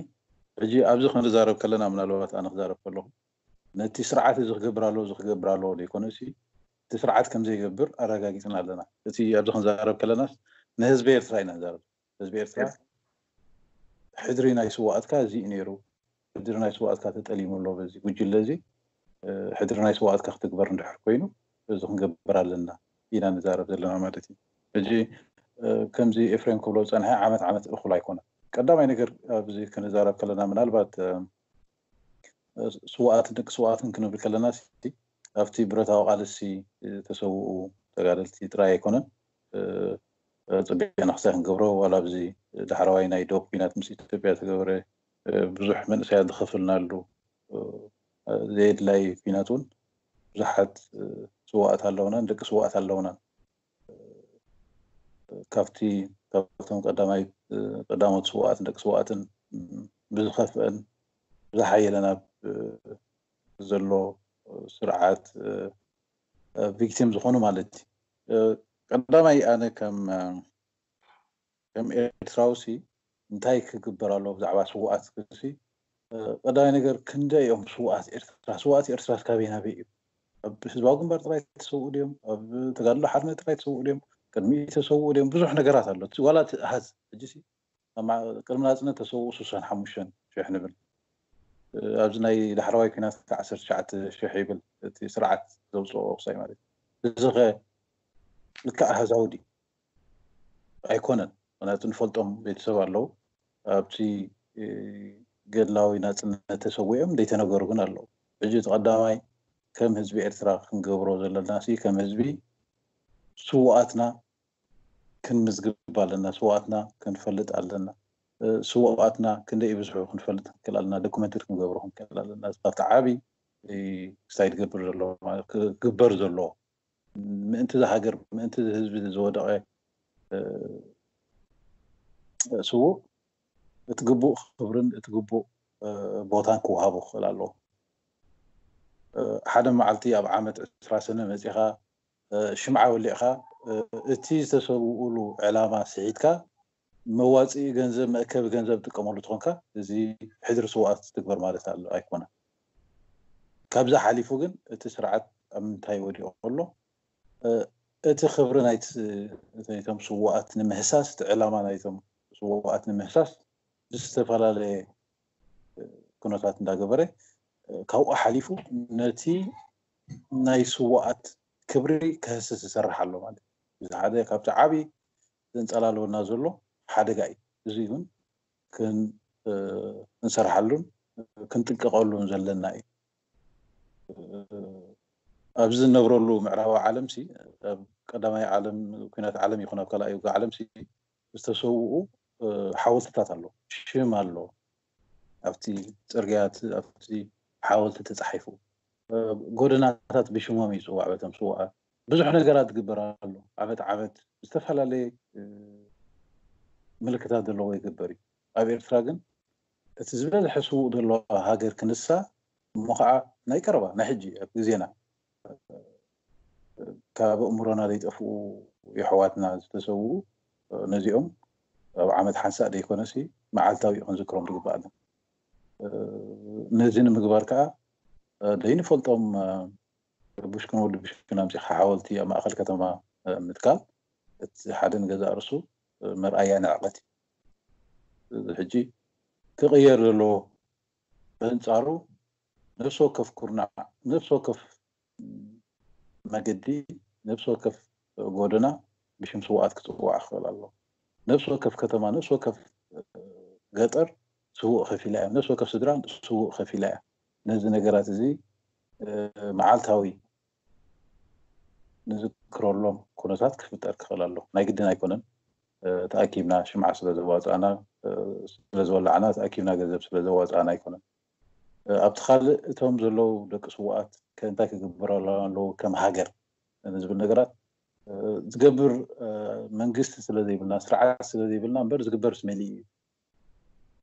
ሕጂ ኣብዚ ክንዛረብ ከለና ምናልባት ኣነ ክዛረብ ከለኹ ነቲ ስርዓት እዚ ክገብር ኣለዎ እዚ ክገብር ኣለዎ ዘይኮነሲ እቲ ስርዓት ከምዘይገብር ኣረጋጊፅና ኣለና እቲ ኣብዚ ክንዛረብ ከለናስ ንህዝቢ ኤርትራ ኢና ንዛረብ ህዝቢ ኤርትራ ሕድሪ ናይ ስዋኣትካ እዚ እዩ ነይሩ ሕድሪ ናይ ስዋኣትካ ተጠሊሙ ኣሎ በዚ ጉጅለ እዚ ሕድሪ ናይ ስዋኣትካ ክትግበር እንድሕር ኮይኑ እዚ ክንገብር ኣለና ኢና ንዛረብ ዘለና ማለት እዩ ሕጂ ከምዚ ኤፍሬም ክብሎ ዝጸንሐ ዓመት ዓመት እኹል ኣይኮነን ቀዳማይ ነገር ኣብዚ ክንዛረብ ከለና ምናልባት ስዋኣትን ደቂ ስዋኣትን ክንብል ከለና ኣብቲ ብረታዊ ቃልሲ ዝተሰውኡ ተጋደልቲ ጥራይ ኣይኮነን ጽቤ ናክሳይ ክንገብሮ ዋላ ኣብዚ ዳሕረዋይ ናይ ዶብ ኩናት ምስ ኢትዮጵያ ዝተገበረ ብዙሕ መንእሰያት ዝኸፈልናሉ ዘየድላይ ኩናት እውን ብዙሓት ስዋኣት ኣለውናን ደቂ ስዋኣት ኣለውናን ካብቲ ካብቶም ቀዳማይ ቀዳሞት ስዋኣትን ደቂ ስዋኣትን ብዝኸፍአን ዝሓየለን ኣብ ዘሎ ስርዓት ቪክቲም ዝኾኑ ማለት እዩ ቀዳማይ ኣነ ከም ከም ኤርትራዊ ሲ እንታይ ክግበር ኣሎ ብዛዕባ ስውኣት ክሲ ቀዳማይ ነገር ክንደ እዮም ስውኣት ኤርትራ ስውኣት ኤርትራ ካበይ ናበይ እዩ ኣብ ህዝባዊ ግንባር ጥራይ ተሰውኡ ድዮም ኣብ ተጋድሎ ሓርነት ጥራይ ተሰውኡ ድዮም ቅድሚ ተሰውኡ ድዮም ብዙሕ ነገራት ኣሎ ዋላ እቲ ኣሃዝ ሕጂ ቅድሚ ናጽነት ተሰውኡ ስሳን ሓሙሽተን ሽሕ ንብል ኣብዚ ናይ ዳሕረዋይ ኩናት ከኣ ዓሰርተ ትሽዓተ ሽሕ ይብል እቲ ስርዓት ዘውጽኦ ወቅሳይ ማለት እዩ እዚኸ ልክዕ ኣሃዛዊ ድዩ ኣይኮነን ምክንያቱ ንፈልጦም ቤተሰብ ኣለዉ ኣብቲ ገድላዊ ናጽነት ተሰዊኦም ዘይተነገሩ ግን ኣለዉ ሕጂ እቲ ቀዳማይ ከም ህዝቢ ኤርትራ ክንገብሮ ዘለናሲ ከም ህዝቢ ስውኣትና ክንምዝግብ ኣለና ስውኣትና ክንፈልጥ ኣለና ስውኣትና ክንደይ ይብዝሑ ክንፈልጥ ክንክእል ኣለና ዶክመንትሪ ክንገብሮ ክንክእል ኣለና እዚ ካብቲ ዓብይ ክሳይ ትገብር ዘሎ ክግበር ዘለዎ ምእንቲ ዝሃገር ምእንቲ ህዝቢ ዝወደቐ ስውእ እቲ ግቡእ ክብርን እቲ ግቡእ ቦታን ክወሃቦ ክኽእል ኣለዎ ሓደ መዓልቲ ኣብ ዓመት ዕስራ ሰነ መፂኻ ሽምዓ ወሊዕካ እቲ ዝተሰውኡሉ ዕላማ ስሒትካ መዋጽኢ ገንዘብ መእከቢ ገንዘብ ትጥቀመሉ ተኾንካ እዚ ሕድሪ ስውኣት ትግበር ማለት ኣሎ ኣይኮነን። ካብዚ ሓሊፉ ግን እቲ ስርዓት ኣብ ምንታይ ወዲቑ ኣሎ እቲ ክብሪ ናይቶም ስውኣት ንምህሳስ እቲ ዕላማ ናይቶም ስውኣት ንምህሳስ ዝተፈላለየ ኩነታት እንዳገበረ ካብኡ ሓሊፉ ነቲ ናይ ስዋኣት ክብሪ ከህስስ ይሰርሕ ኣሎ ማለት እዩ። እዚ ሓደ ካብቲ ዓቢ ዘንጸላልወና ዘሎ ሓደጋ እዩ። እዚ ውን ክንሰርሓሉን ክንጥንቀቀሉን ዘለና እዩ። ኣብዚ ንነብረሉ ምዕራባዊ ዓለምሲ ኣብ ቀዳማይ ዓለም ኩናት ዓለም ይኹን ኣብ ካልኣይ ውግእ ዓለምሲ ዝተሰውኡ ሓወልትታት ኣሎ ሽም ኣሎ ኣብቲ ፅርግያት ኣብቲ ሓወልቲ ተፃሒፉ ጎደናታት ብሽሞም ይፅዋዕ በቶም ስዋኣት ብዙሕ ነገራት ዝግበር ኣሎ ዓመት ዓመት ዝተፈላለየ ምልክታት ዘለዎ ይግበር እዩ ኣብ ኤርትራ ግን እቲ ዝበዝሐ ስውእ ዘለዎ ሃገር ክንሳ እሞ ከዓ ናይ ቀረባ ናይ ሕጂ ኣብ ግዜና ካብ ኣእምሮና ዘይጠፍኡ የሕዋትና ዝተሰውኡ ነዚኦም ኣብ ዓመት ሓንሳእ ዘይኮነሲ መዓልታዊ ክንዝክሮም ዝግባኣና ነዚ ንምግባር ከዓ ዘይንፈልጦም ብሽክን ወዲ ብሽክን ኣምፂኻ ሓወልቲ ኣብ ማእኸል ከተማ ምትካል እቲ ሓደ ንገዛእ ርሱ መርኣያ ንዕቐት እዩ ሕጂ ክቕየር ዘለዎ በንፃሩ ነፍሲ ወከፍ ኩርናዕ ነፍሲ ወከፍ መገዲ ነብሲ ወከፍ ጎደና ብሽም ስውኣት ክጽዋዕ ክኽእል ኣለዎ። ነብሲ ወከፍ ከተማ፣ ነብሲ ወከፍ ገጠር ስውእ ከፊላ እያ። ነብሲ ወከፍ ስድራ ስውእ ከፊላ እያ። ነዚ ነገራት እዚ መዓልታዊ ንዝክረሎም ኩነታት ክፍጠር ክኽእል ኣለዎ። ናይ ግድን ኣይኮነን ተኣኪብና ሽምዓ ስለ ዘዋጻእና ስለ ዝወላዕና ተኣኪብና ገንዘብ ስለ ዘዋጻእና ኣይኮነን። ኣብቲ ካልእ እቶም ዘለዉ ደቂ ስዉኣት ከ እንታይ ክግበረሎም ኣለዎ ከም ሃገር ንዝብል ነገራት ዝገብር መንግስቲ ስለ ዘይብልና ስርዓት ስለ ዘይብልና እምበር ዝግበርስ መሊእ እዩ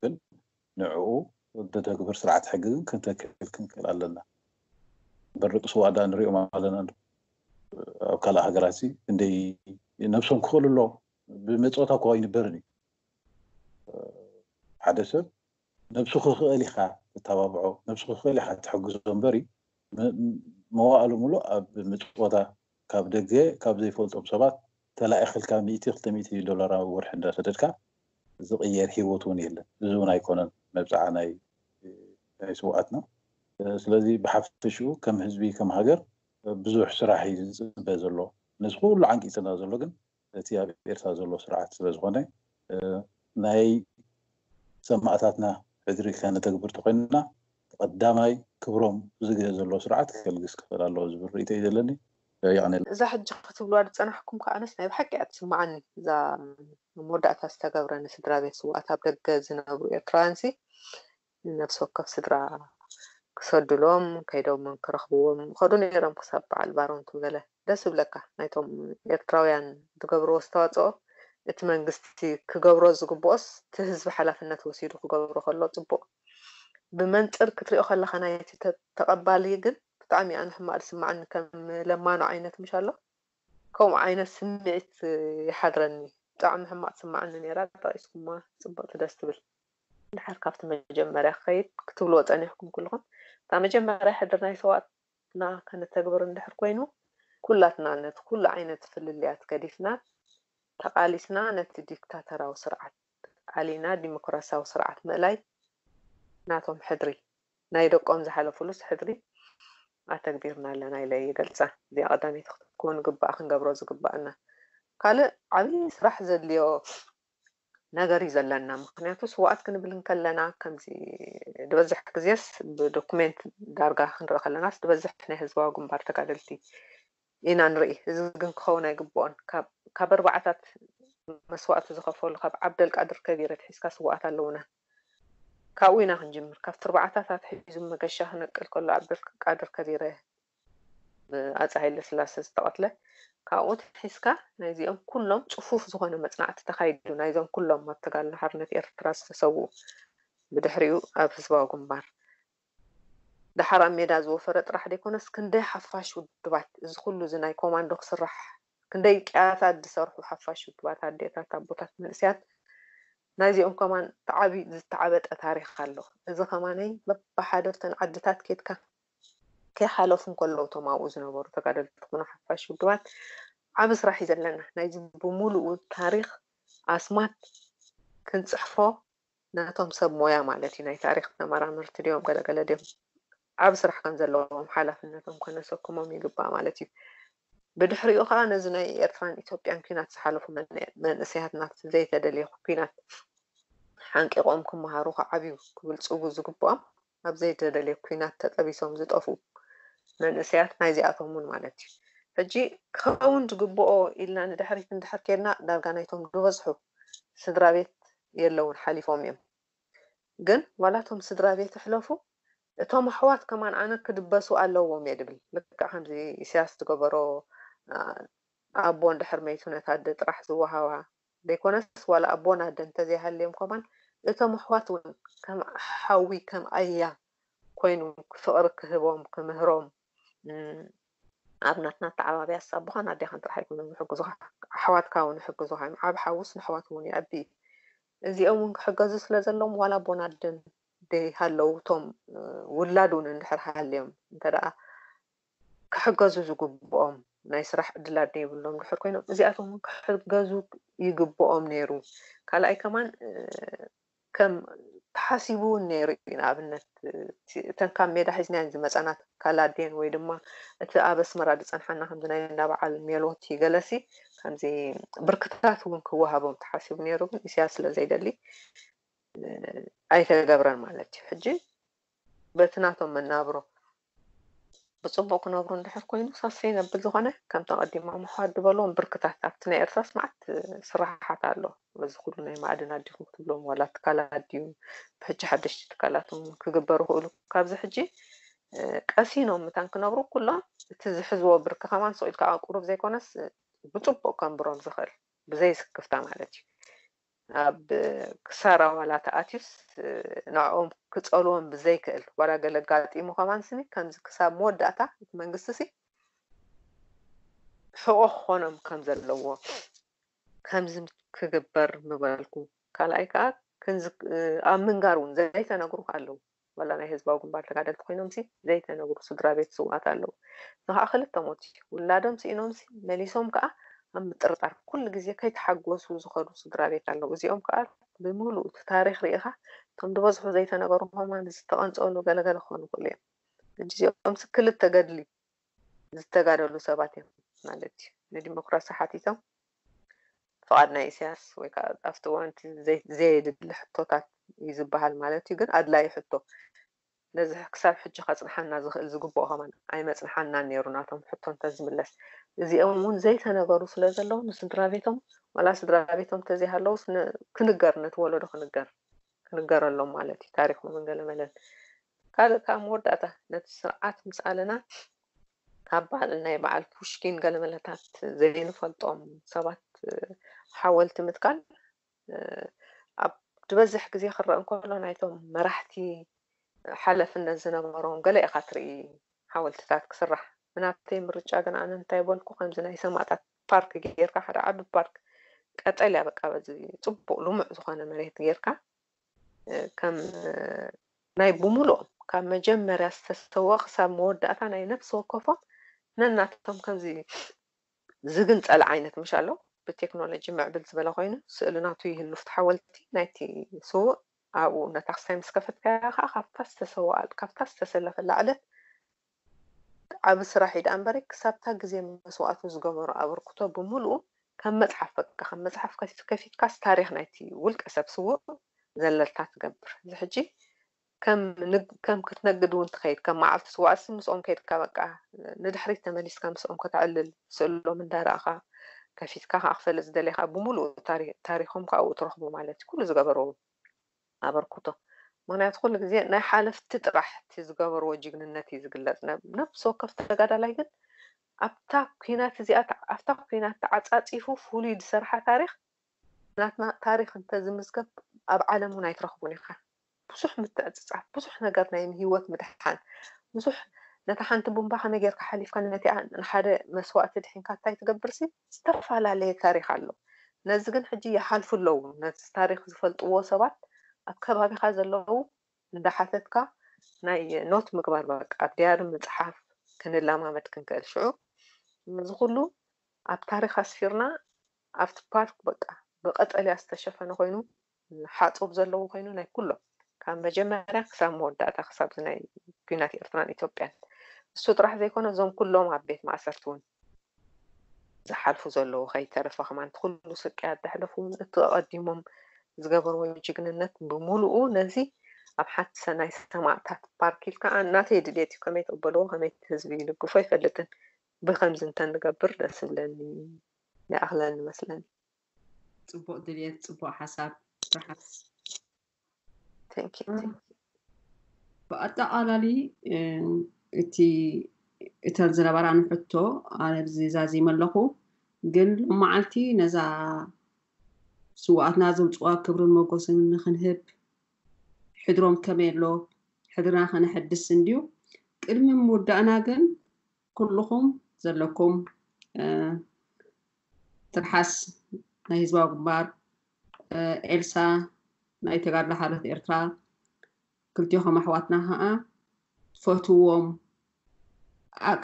ግን ንዕኡ ደተግብር ስርዓት ሕጊ ግን ክንተክል ክንክእል ኣለና እምበር ደቂ ስዉኣት ዳ ንሪኦም ኣለና ኣብ ካልእ ሃገራት ሲ እንደይ ነብሶም ክኽእሉ ኣለዎም ብመፅወታ እኳ ይንበርን እዩ ሓደ ሰብ ነብሱ ክኽእል ኢኻ ተታባብዖ ነብሱ ክኽእል ኢኻ ትሕግዞ እምበሪ መዋእሉ ምሉእ ኣብ ምጽወታ ካብ ደገ ካብ ዘይፈልጦም ሰባት ተላኢኽልካ ሚእቲ ክልተ ሚእቲ ዶላር ኣብ ወርሒ እንዳሰደድካ ዝቕየር ሂወት እውን የለን እዚ እውን ኣይኮነን መብጽዓ ናይ ናይ ስውኣትና ስለዚ ብሓፈሽኡ ከም ህዝቢ ከም ሃገር ብዙሕ ስራሕ እዩ ዝጽበ ዘሎ ነዚ ኩሉ ዓንቂጽና ዘሎ ግን እቲ ኣብ ኤርትራ ዘሎ ስርዓት ስለዝኾነ ናይ ሰማእታትና ሕድሪ ከነተግብር ተኾይንና ብቀዳማይ ክብሮም እዚ ግዜ ዘሎ ስርዓት ከልግስ ክኽእል ኣለዎ ዝብል ርእይቶ እዩ ዘለኒ። የቀኔለይ። እዛ ሕጂ ክትብሉዋ ዝጸናሕኩም ከኣ ኣነስ ናይ ብሓቂ እያ ትስምዓኒ እዛ ኣብ መወዳእታ ዝተገብረ ንስድራቤት ስውኣት ኣብ ደገ ዝነብሩ ኤርትራውያንሲ ንነፍሲ ወከፍ ስድራ ክሰዱሎም ከይዶም ክረኽብዎም ይኸዱ ነይሮም ክሳብ በዓል ባሮንቱ ገለ ደስ ዝብለካ ናይቶም ኤርትራውያን ዝገብርዎ ኣስተዋጽኦ እቲ መንግስቲ ክገብሮ ዝግብኦስ እቲ ህዝቢ ሓላፍነት ወሲዱ ክገብሮ ከሎ ጽቡቕ ብመንጽር ክትሪኦ ከለኻ ናይቲ ተቐባሊ ግን ብጣዕሚ ኣነ ሕማቕ ዝስምዓኒ ከም ለማኖ ዓይነት ምሽ ኣሎ ከምኡ ዓይነት ስምዒት ይሓድረኒ ብጣዕሚ ሕማቕ ትስምዓኒ ነይራ ጠቒስኩማ ጽብቕቲ ደስ ትብል ድሓር ካብቲ መጀመርያ ክኸይድ ክትብልዎ ጸኒሕኩም ኩልኹም እታ መጀመርያ ሕድር ናይ ሰዋእትና ከነተግብር እንድሕር ኮይኑ ኩላትና ነቲ ኩሉ ዓይነት ፍልልያት ገዲፍና ተቓሊስና ነቲ ዲክታተራዊ ስርዓት ኣሊና ዲሞክራሲያዊ ስርዓት ምእላይ ናቶም ሕድሪ ናይ ደቆም ዝሓለፉሉስ ሕድሪ ኣተግቢርና ኣለና ኢለ ይገልጻ እዚኣ ቀዳመይቲ ክትከውን ግብኣ ክንገብሮ ዝግብኣና ካልእ ዓብዪ ስራሕ ዘድልዮ ነገር እዩ ዘለና ምክንያቱ ስውኣት ክንብል እንከለና ከምዚ ድበዝሕ ግዜስ ብዶኩሜንት ዳርጋ ክንርኢ ከለናስ ድበዝሕ ናይ ህዝባዊ ግንባር ተጋደልቲ ኢና ንርኢ እዚ ግን ክኸውን ኣይግብኦን ካብ ኣርባዓታት መስዋእቲ ዝኸፈሉ ካብ ዓብደል ቃድር ከቢር ኣትሒዝካ ስውኣት ኣለውና ካብኡ ኢና ክንጅምር ካብቲ ኣርባዓታት ኣትሒዙ መገሻ ክነቅል ከሎ ዓብደል ቃድር ከቢረ ብኣፄ ሃይለስላሰ ዝተቐትለ ካብኡ ኣትሒዝካ ናይዚኦም ኩሎም ፅፉፍ ዝኾነ መፅናዕቲ ተኻይዱ ናይዞም ኩሎም ኣብ ተጋድሎ ሓርነት ኤርትራ ዝተሰውኡ ብድሕሪኡ ኣብ ህዝባዊ ግንባር ደሓር ኣብ ሜዳ ዝወፈረ ጥራሕ ደይኮነስ ክንደይ ሓፋሽ ውድባት እዚ ኩሉ እዚ ናይ ኮማንዶ ክስራሕ ክንደይ ቅያታት ዝሰርሑ ሓፋሽ ውድባት ኣዴታት ኣቦታት መንእስያት ናይዚኦም ከማን ተዓቢ ዝተዓበጠ ታሪክ ኣሎ እዚ ከማነይ በብሓደ ኣብተን ዓድታት ኬድካ ከይሓለፉ እንከለዉ እቶም ኣብኡ ዝነበሩ ተጋደልቲ ኮኑ ሓፋሽ ውድባት ዓቢ ስራሕ እዩ ዘለና። ናይዚ ብምሉኡ ታሪኽ ኣስማት ክንጽሕፎ ነቶም ሰብ ሞያ ማለት እዩ ናይ ታሪኽ ተመራመርቲ ድዮም ገለ ገለ ድዮም ዓቢ ስራሕ ከም ዘለዎም ሓላፍነቶም ከነሰክሞም ይግባእ ማለት እዩ። ብድሕሪኡ ከኣ ነዚ ናይ ኤርትራን ኢትዮጵያን ኲናት ዝሓለፉ መንእሰያትና ዘይተደልየ ኲናት ሓንቂቖም ክመሃሩ ክዓብዩ ክብልጽጉ ዝግብኦም ኣብ ዘይተደልየ ኩናት ተጠቢሶም ዝጠፍኡ መንእሰያት ናይዚኣቶም ውን ማለት ዩ። ሕጂ ክኸውን ዝግብኦ ኢልና ንድሕሪት እንድሕር ኬድና ዳርጋ ናይቶም ድበዝሑ ስድራቤት የለውን ሓሊፎም ዮም። ግን ዋላ እቶም ስድራቤት ይሕለፉ እቶም ኣሕዋት ከማን ኣነ ክድበሱ ኣለዎም እየ ድብል። ልክዕ ከምዚ ኢሰያስ ዝገበሮ ኣቦ እንድሕር መይቱ ነታ ኣደ ጥራሕ ዝወሃባ ዘይኮነስ ዋላ ኣቦን ኣደን እንተዘይሃልዮም ከማን እቶም ኣሕዋት ውን ከም ሓዊ ከም ኣያ ኮይኑ ፍቅሪ ክህቦም ክምህሮም ኣብ ናትና ኣተዓባብያስ ኣቦኻን ኣዴኻን ጥራሕ ኣይኮኑን ዝሕግዙኻ ኣሕዋትካ ውን ይሕግዙኻ እዮም ዓቢ ሓውስ ንኣሕዋቱ ውን የዕቢ እዩ እዚኦም ውን ክሕገዙ ስለ ዘለዎም ዋላ ኣቦን ኣደን ዘይሃለው እቶም ውላድ ውን እንድሕር ሃልዮም እንተደኣ ክሕገዙ ዝግብኦም ናይ ስራሕ ዕድላት ደይብሎም ድሑር ኮይኖም እዚኣቶም ውን ክሕገዙ ይግብኦም ነይሩ ካልኣይ ከማን ከም ተሓሲቡ ውን ነይሩ እዩ ንኣብነት እተን ካብ ሜዳ ሒዝናየን ዝመጻና ትካል ኣዴን ወይ ድማ እቲ ኣብ ኣስመራ ዝጸንሓና ከምዚ ናይ እንዳ በዓል ሜሎቲ ገለሲ ከምዚ ብርክታት ውን ክወሃቦም ተሓሲቡ ነይሩ ግን ኢሳያስ ስለ ዘይደሊ ኣይተገብረን ማለት እዩ ሕጂ በቲ ናቶም መናብሮ ብጽቡቕ ክነብሩ እንድሕር ኮይኑ ሳሰይ ነብል ዝኾነ ከምቲ ኣቐዲሙ ኣምሓ ድበልዎም ብርክታት ኣብቲ ናይ ኤርትራስ መዓት ስራሓት ኣሎ በዚ ኩሉ ናይ ማዕድናት ዲኹም ክትብሎም ዋላ ትካላት ድዩ ብሕጂ ሓደሽቲ ትካላት እውን ክግበሩ ክእሉ ካብዚ ሕጂ ቀሲኖም ምታን ክነብሩ ኩሎም እቲ ዝሕዝዎ ብርኪ ከማን ስቕ ኢልካ ቁሩብ ዘይኮነስ ብጽቡቕ ከንብሮም ዝኽእል ብዘይ ስክፍታ ማለት እዩ ኣብ ክሳራ ዋላ ተኣትዩስ ንዕኦም ክጸልዎም ብዘይክእል ዋላ ገለ ኣጋጢሙ ከማን ስኒ ከምዚ ክሳብ መወዳእታ እቲ መንግስቲ ሲ ሕቖ ክኾኖም ከም ዘለዎ ከምዚ ክግበር ምበልኩ ካልኣይ ከኣ ክንዚ ኣብ ምንጋር እውን ዘይተነግሩ ኣለዉ ወላ ናይ ህዝባዊ ግንባር ተጋደልቲ ኮይኖምሲ ዘይተነግሩ ስድራቤት ስውኣት ኣለዉ። እዚ ከኣ ክልተ ሞት እዩ። ውላዶም ስኢኖምሲ መሊሶም ከኣ ኣብ ምጥርጣር ኩሉ ግዜ ከይተሓጎሱ ዝኸዱ ስድራቤት ኣለዉ። እዚኦም ከኣ ብምሉኡ እቲ ታሪኽ ርኢኻ እቶም ድበዝሑ ዘይተነገሩ ከማን ዝተቐንጸሉ ገለ ገለ ክኾኑ ይኽእሉ እዮም። ሕጂ እዚኦምሲ ክልተ ገድሊ ዝተጋደሉ ሰባት እዮም ማለት እዩ። ንዲሞክራሲ ሓቲቶም ፍቓድ ናይ ኢሳያስ ወይ ከዓ ኣብቲ እዋን እቲ ዘየድሊ ሕቶታት እዩ ዝበሃል ማለት እዩ። ግን ኣድላዪ ሕቶ ነዚ ክሳብ ሕጂ ከጽንሓና ዝኽእል ዝግብኦ ከማን ኣይመጽንሓናን ነይሩ ናቶም ሕቶ እንተዝምለስ። እዚኦም እውን ዘይተነገሩ ስለ ዘለዉ ንስድራቤቶም ዋላ ስድራቤቶም እንተዘይሃለዉስ ክንገር ነቲ ወለዶ ክንገር። ክንገረሎም ማለት እዩ ታሪኮምን ገለመለን ካልእ ካኣ መወዳእታ ነቲ ስርዓት ምስ ኣለና ካብ ባዓል ናይ ባዓል ፑሽኪን ገለመለታት ዘይንፈልጦም ሰባት ሓወልቲ ምትካል ኣብ ዝበዝሕ ግዜ ክረእ እንከሎ ናይቶም መራሕቲ ሓለፍነት ዝነበሮም ገለ ኢካ ትርኢ ሓወልትታት ክስራሕ ብናተይ ምርጫ ግን ኣነ እንታይ በልኩ ከምዚ ናይ ሰማእታት ፓርክ ጌርካ ሓደ ዓቢ ፓርክ ቀጠልያ በቃ በዚ ጽቡቅ ልሙዕ ዝኾነ መሬት ጌርካ ከም ናይ ብምሉኦም ካብ መጀመርያ ዝተሰወ ክሳብ መወዳእታ ናይ ነፍሲ ወከፎም ነናቶም ከምዚ ዝግንጸል ዓይነት ምሽ ኣሎ ብቴክኖሎጂ ምዕብል ዝበለ ኮይኑ ስእሊ ናቱ ይህሉ ፍቲ ሓወልቲ ናይቲ ስውእ ኣብኡ ነታክስታይ ምስ ከፈትካያ ከዓ ካብታ ዝተሰወኣል ካብታ ዝተሰለፈላ ዕለት ዓቢ ስራሕ እዩ ደኣ እምበሪ ክሳብታ ግዜ መስዋእቱ ዝገበሮ ኣበርክቶ ብምሉኡ ከም መጽሓፍ በቃ ከም መጽሓፍ ከፊትካስ ታሪኽ ናይቲ ውልቀ ሰብ ስዉእ ዘለልታ ትገብር እዚ ሕጂ ከም ከም ክትነግድ እውን ትኸይድ ከም መዓልቲ ስዋእሲ ምስኦም ከይድካ በቃ ንድሕሪት ተመሊስካ ምስኦም ከተዕልል ስእሎም እንዳረኣኻ ከፊትካ ከዓ ክፈልጥ ዝደለኻ ብምሉኡ ታሪኾም ካብኡ ትረኽቦ ማለት እዩ ኩሉ ዝገበሮ ኣበርኩቶ ምክንያቱ ኩሉ ግዜ ናይ ሓለፍቲ ጥራሕ እቲ ዝገበርዎ ጅግንነት እዩ ዝግለፅ ነብሲ ወከፍ ተጋዳላይ ግን ኣብታ ኩናት እዚኣ ኣብታ ኩናት ተዓፃፂፉ ፍሉይ ዝሰርሓ ታሪክ ናትና ታሪክ እንተዝምዝገብ ኣብ ዓለም እውን ኣይትረክቡን ኢካ ብዙሕ ምትዕፅፃፍ ብዙሕ ነገር ናይ ሂወት ምድሓን ብዙሕ ነታ ሓንቲ ቡምባ ከመይ ጌርካ ሓሊፍካ ነቲኣ ንሓደ መስዋእቲ ድሒንካ እንታይ ትገብርሲ ዝተፈላለየ ታሪኽ ኣሎ ነዚ ግን ሕጂ ይሓልፉ ኣለዉ ነቲ ታሪኽ ዝፈልጥዎ ሰባት ኣብ ከባቢኻ ዘለዉ እንዳሓተትካ ናይ ኖት ምግባር በቃ ኣብ ድያሪ ምጽሓፍ ክንላማመድ ክንክእል ሽዑ እዚ ኩሉ ኣብ ታሪኽ ኣስፊርና ኣብቲ ፓርክ በቃ ብቀጠልያ ዝተሸፈነ ኮይኑ ሓጹር ዘለዎ ኮይኑ ናይ ኩሎም ካብ መጀመርያ ክሳብ መወዳእታ ክሳብ እዚ ናይ ኩናት ኤርትራን ኢትዮጵያን እሱ ጥራሕ ዘይኮነ እዞም ኩሎም ኣብ ቤት ማእሰርቲ ውን ዝሓልፉ ዘለዉ ከይተረፈ ከማን እቲ ኩሉ ስቅያት ዘሕለፉ ውን እቲ ኣቐዲሞም ዝገበርዎ ጅግንነት ብምሉኡ ነዚ ኣብ ሓንቲ ሰናይ ሰማእታት ፓርክ ኢልካ ኣ ናተይ ድሌት እዩ ከመይ ተበልዎ ከመይ እቲ ህዝቢ ይልግፎ ኣይፈልጥን ብከምዚ እንተ ንገብር ደስ ይብለኒ ይኣኽለኒ መስለኒ። ጽቡቅ ድልየት ጽቡቅ ሓሳብ ትርሓስ። Thank you thank you። ብኣጠቓላሊ እቲ እተን ዝነበራኒ ሕቶ ኣብዚ ዛዚመ ኣለኹ ግን ሎመዓልቲ ነዛ ስውኣትና ዘውፅዋ ክብርን ሞጎስን ንክንህብ ሕድሮም ከመይ ኣሎ ሕድርና ከነሐድስ እንድዩ ቅድሚ ምውዳእና ግን ኩሉኹም ዘለኩም ትርሓስ ናይ ህዝባዊ ግንባር ኤልሳ ናይ ተጋድሎ ሓርነት ኤርትራ ክልቲኹም ኣሕዋትና ከዓ ትፈትዎም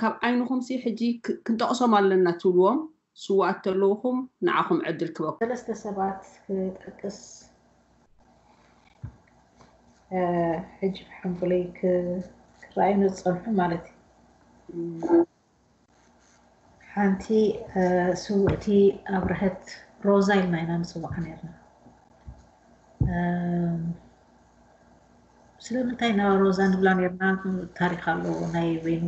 ካብ ዓይንኹም ሲ ሕጂ ክንጠቕሶም ኣለና ትብልዎም ስውኣት ተለውኹም ንዓኹም ዕድል ክበኩም። ሰለስተ ሰባት ክጠቅስ ሕጂ ብሓንጎለይ ክረኣዩኒ ዝጸንሑ ማለት እዩ። ሓንቲ ስውእቲ ኣብርሀት ሮዛ ኢልና ኢና ንጽውዓ ነርና። ስለምንታይ ኢና ሮዛ ንብላ ነርና ታሪኽ ኣለዎ ናይ በይኑ።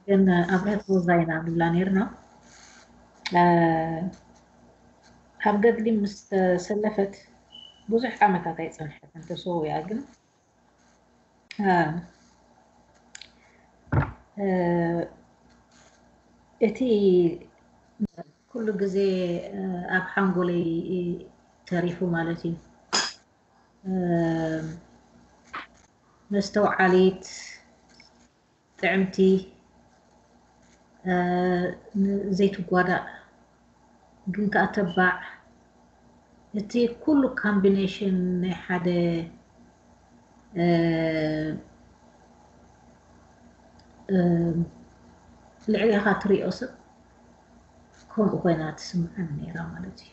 ግን ኣብርሀት ቦዛ ኢና ንብላ ነርና ኣብ ገድሊ ምስ ተሰለፈት ብዙሕ ዓመታት ኣይጸንሐትን ተሰዊኣ ግን እቲ ኩሉ ግዜ ኣብ ሓንጎለይ ተሪፉ ማለት እዩ መስተውዓሊት ጥዕምቲ ዘይትጓዳእ ግን ከኣ ተባዕ እቲ ኩሉ ካምቢነሽን ናይ ሓደ ልዕሌኻ ትሪኦ ሰብ ከምኡ ኮይና ትስምዓኒ ነይራ ማለት እዩ።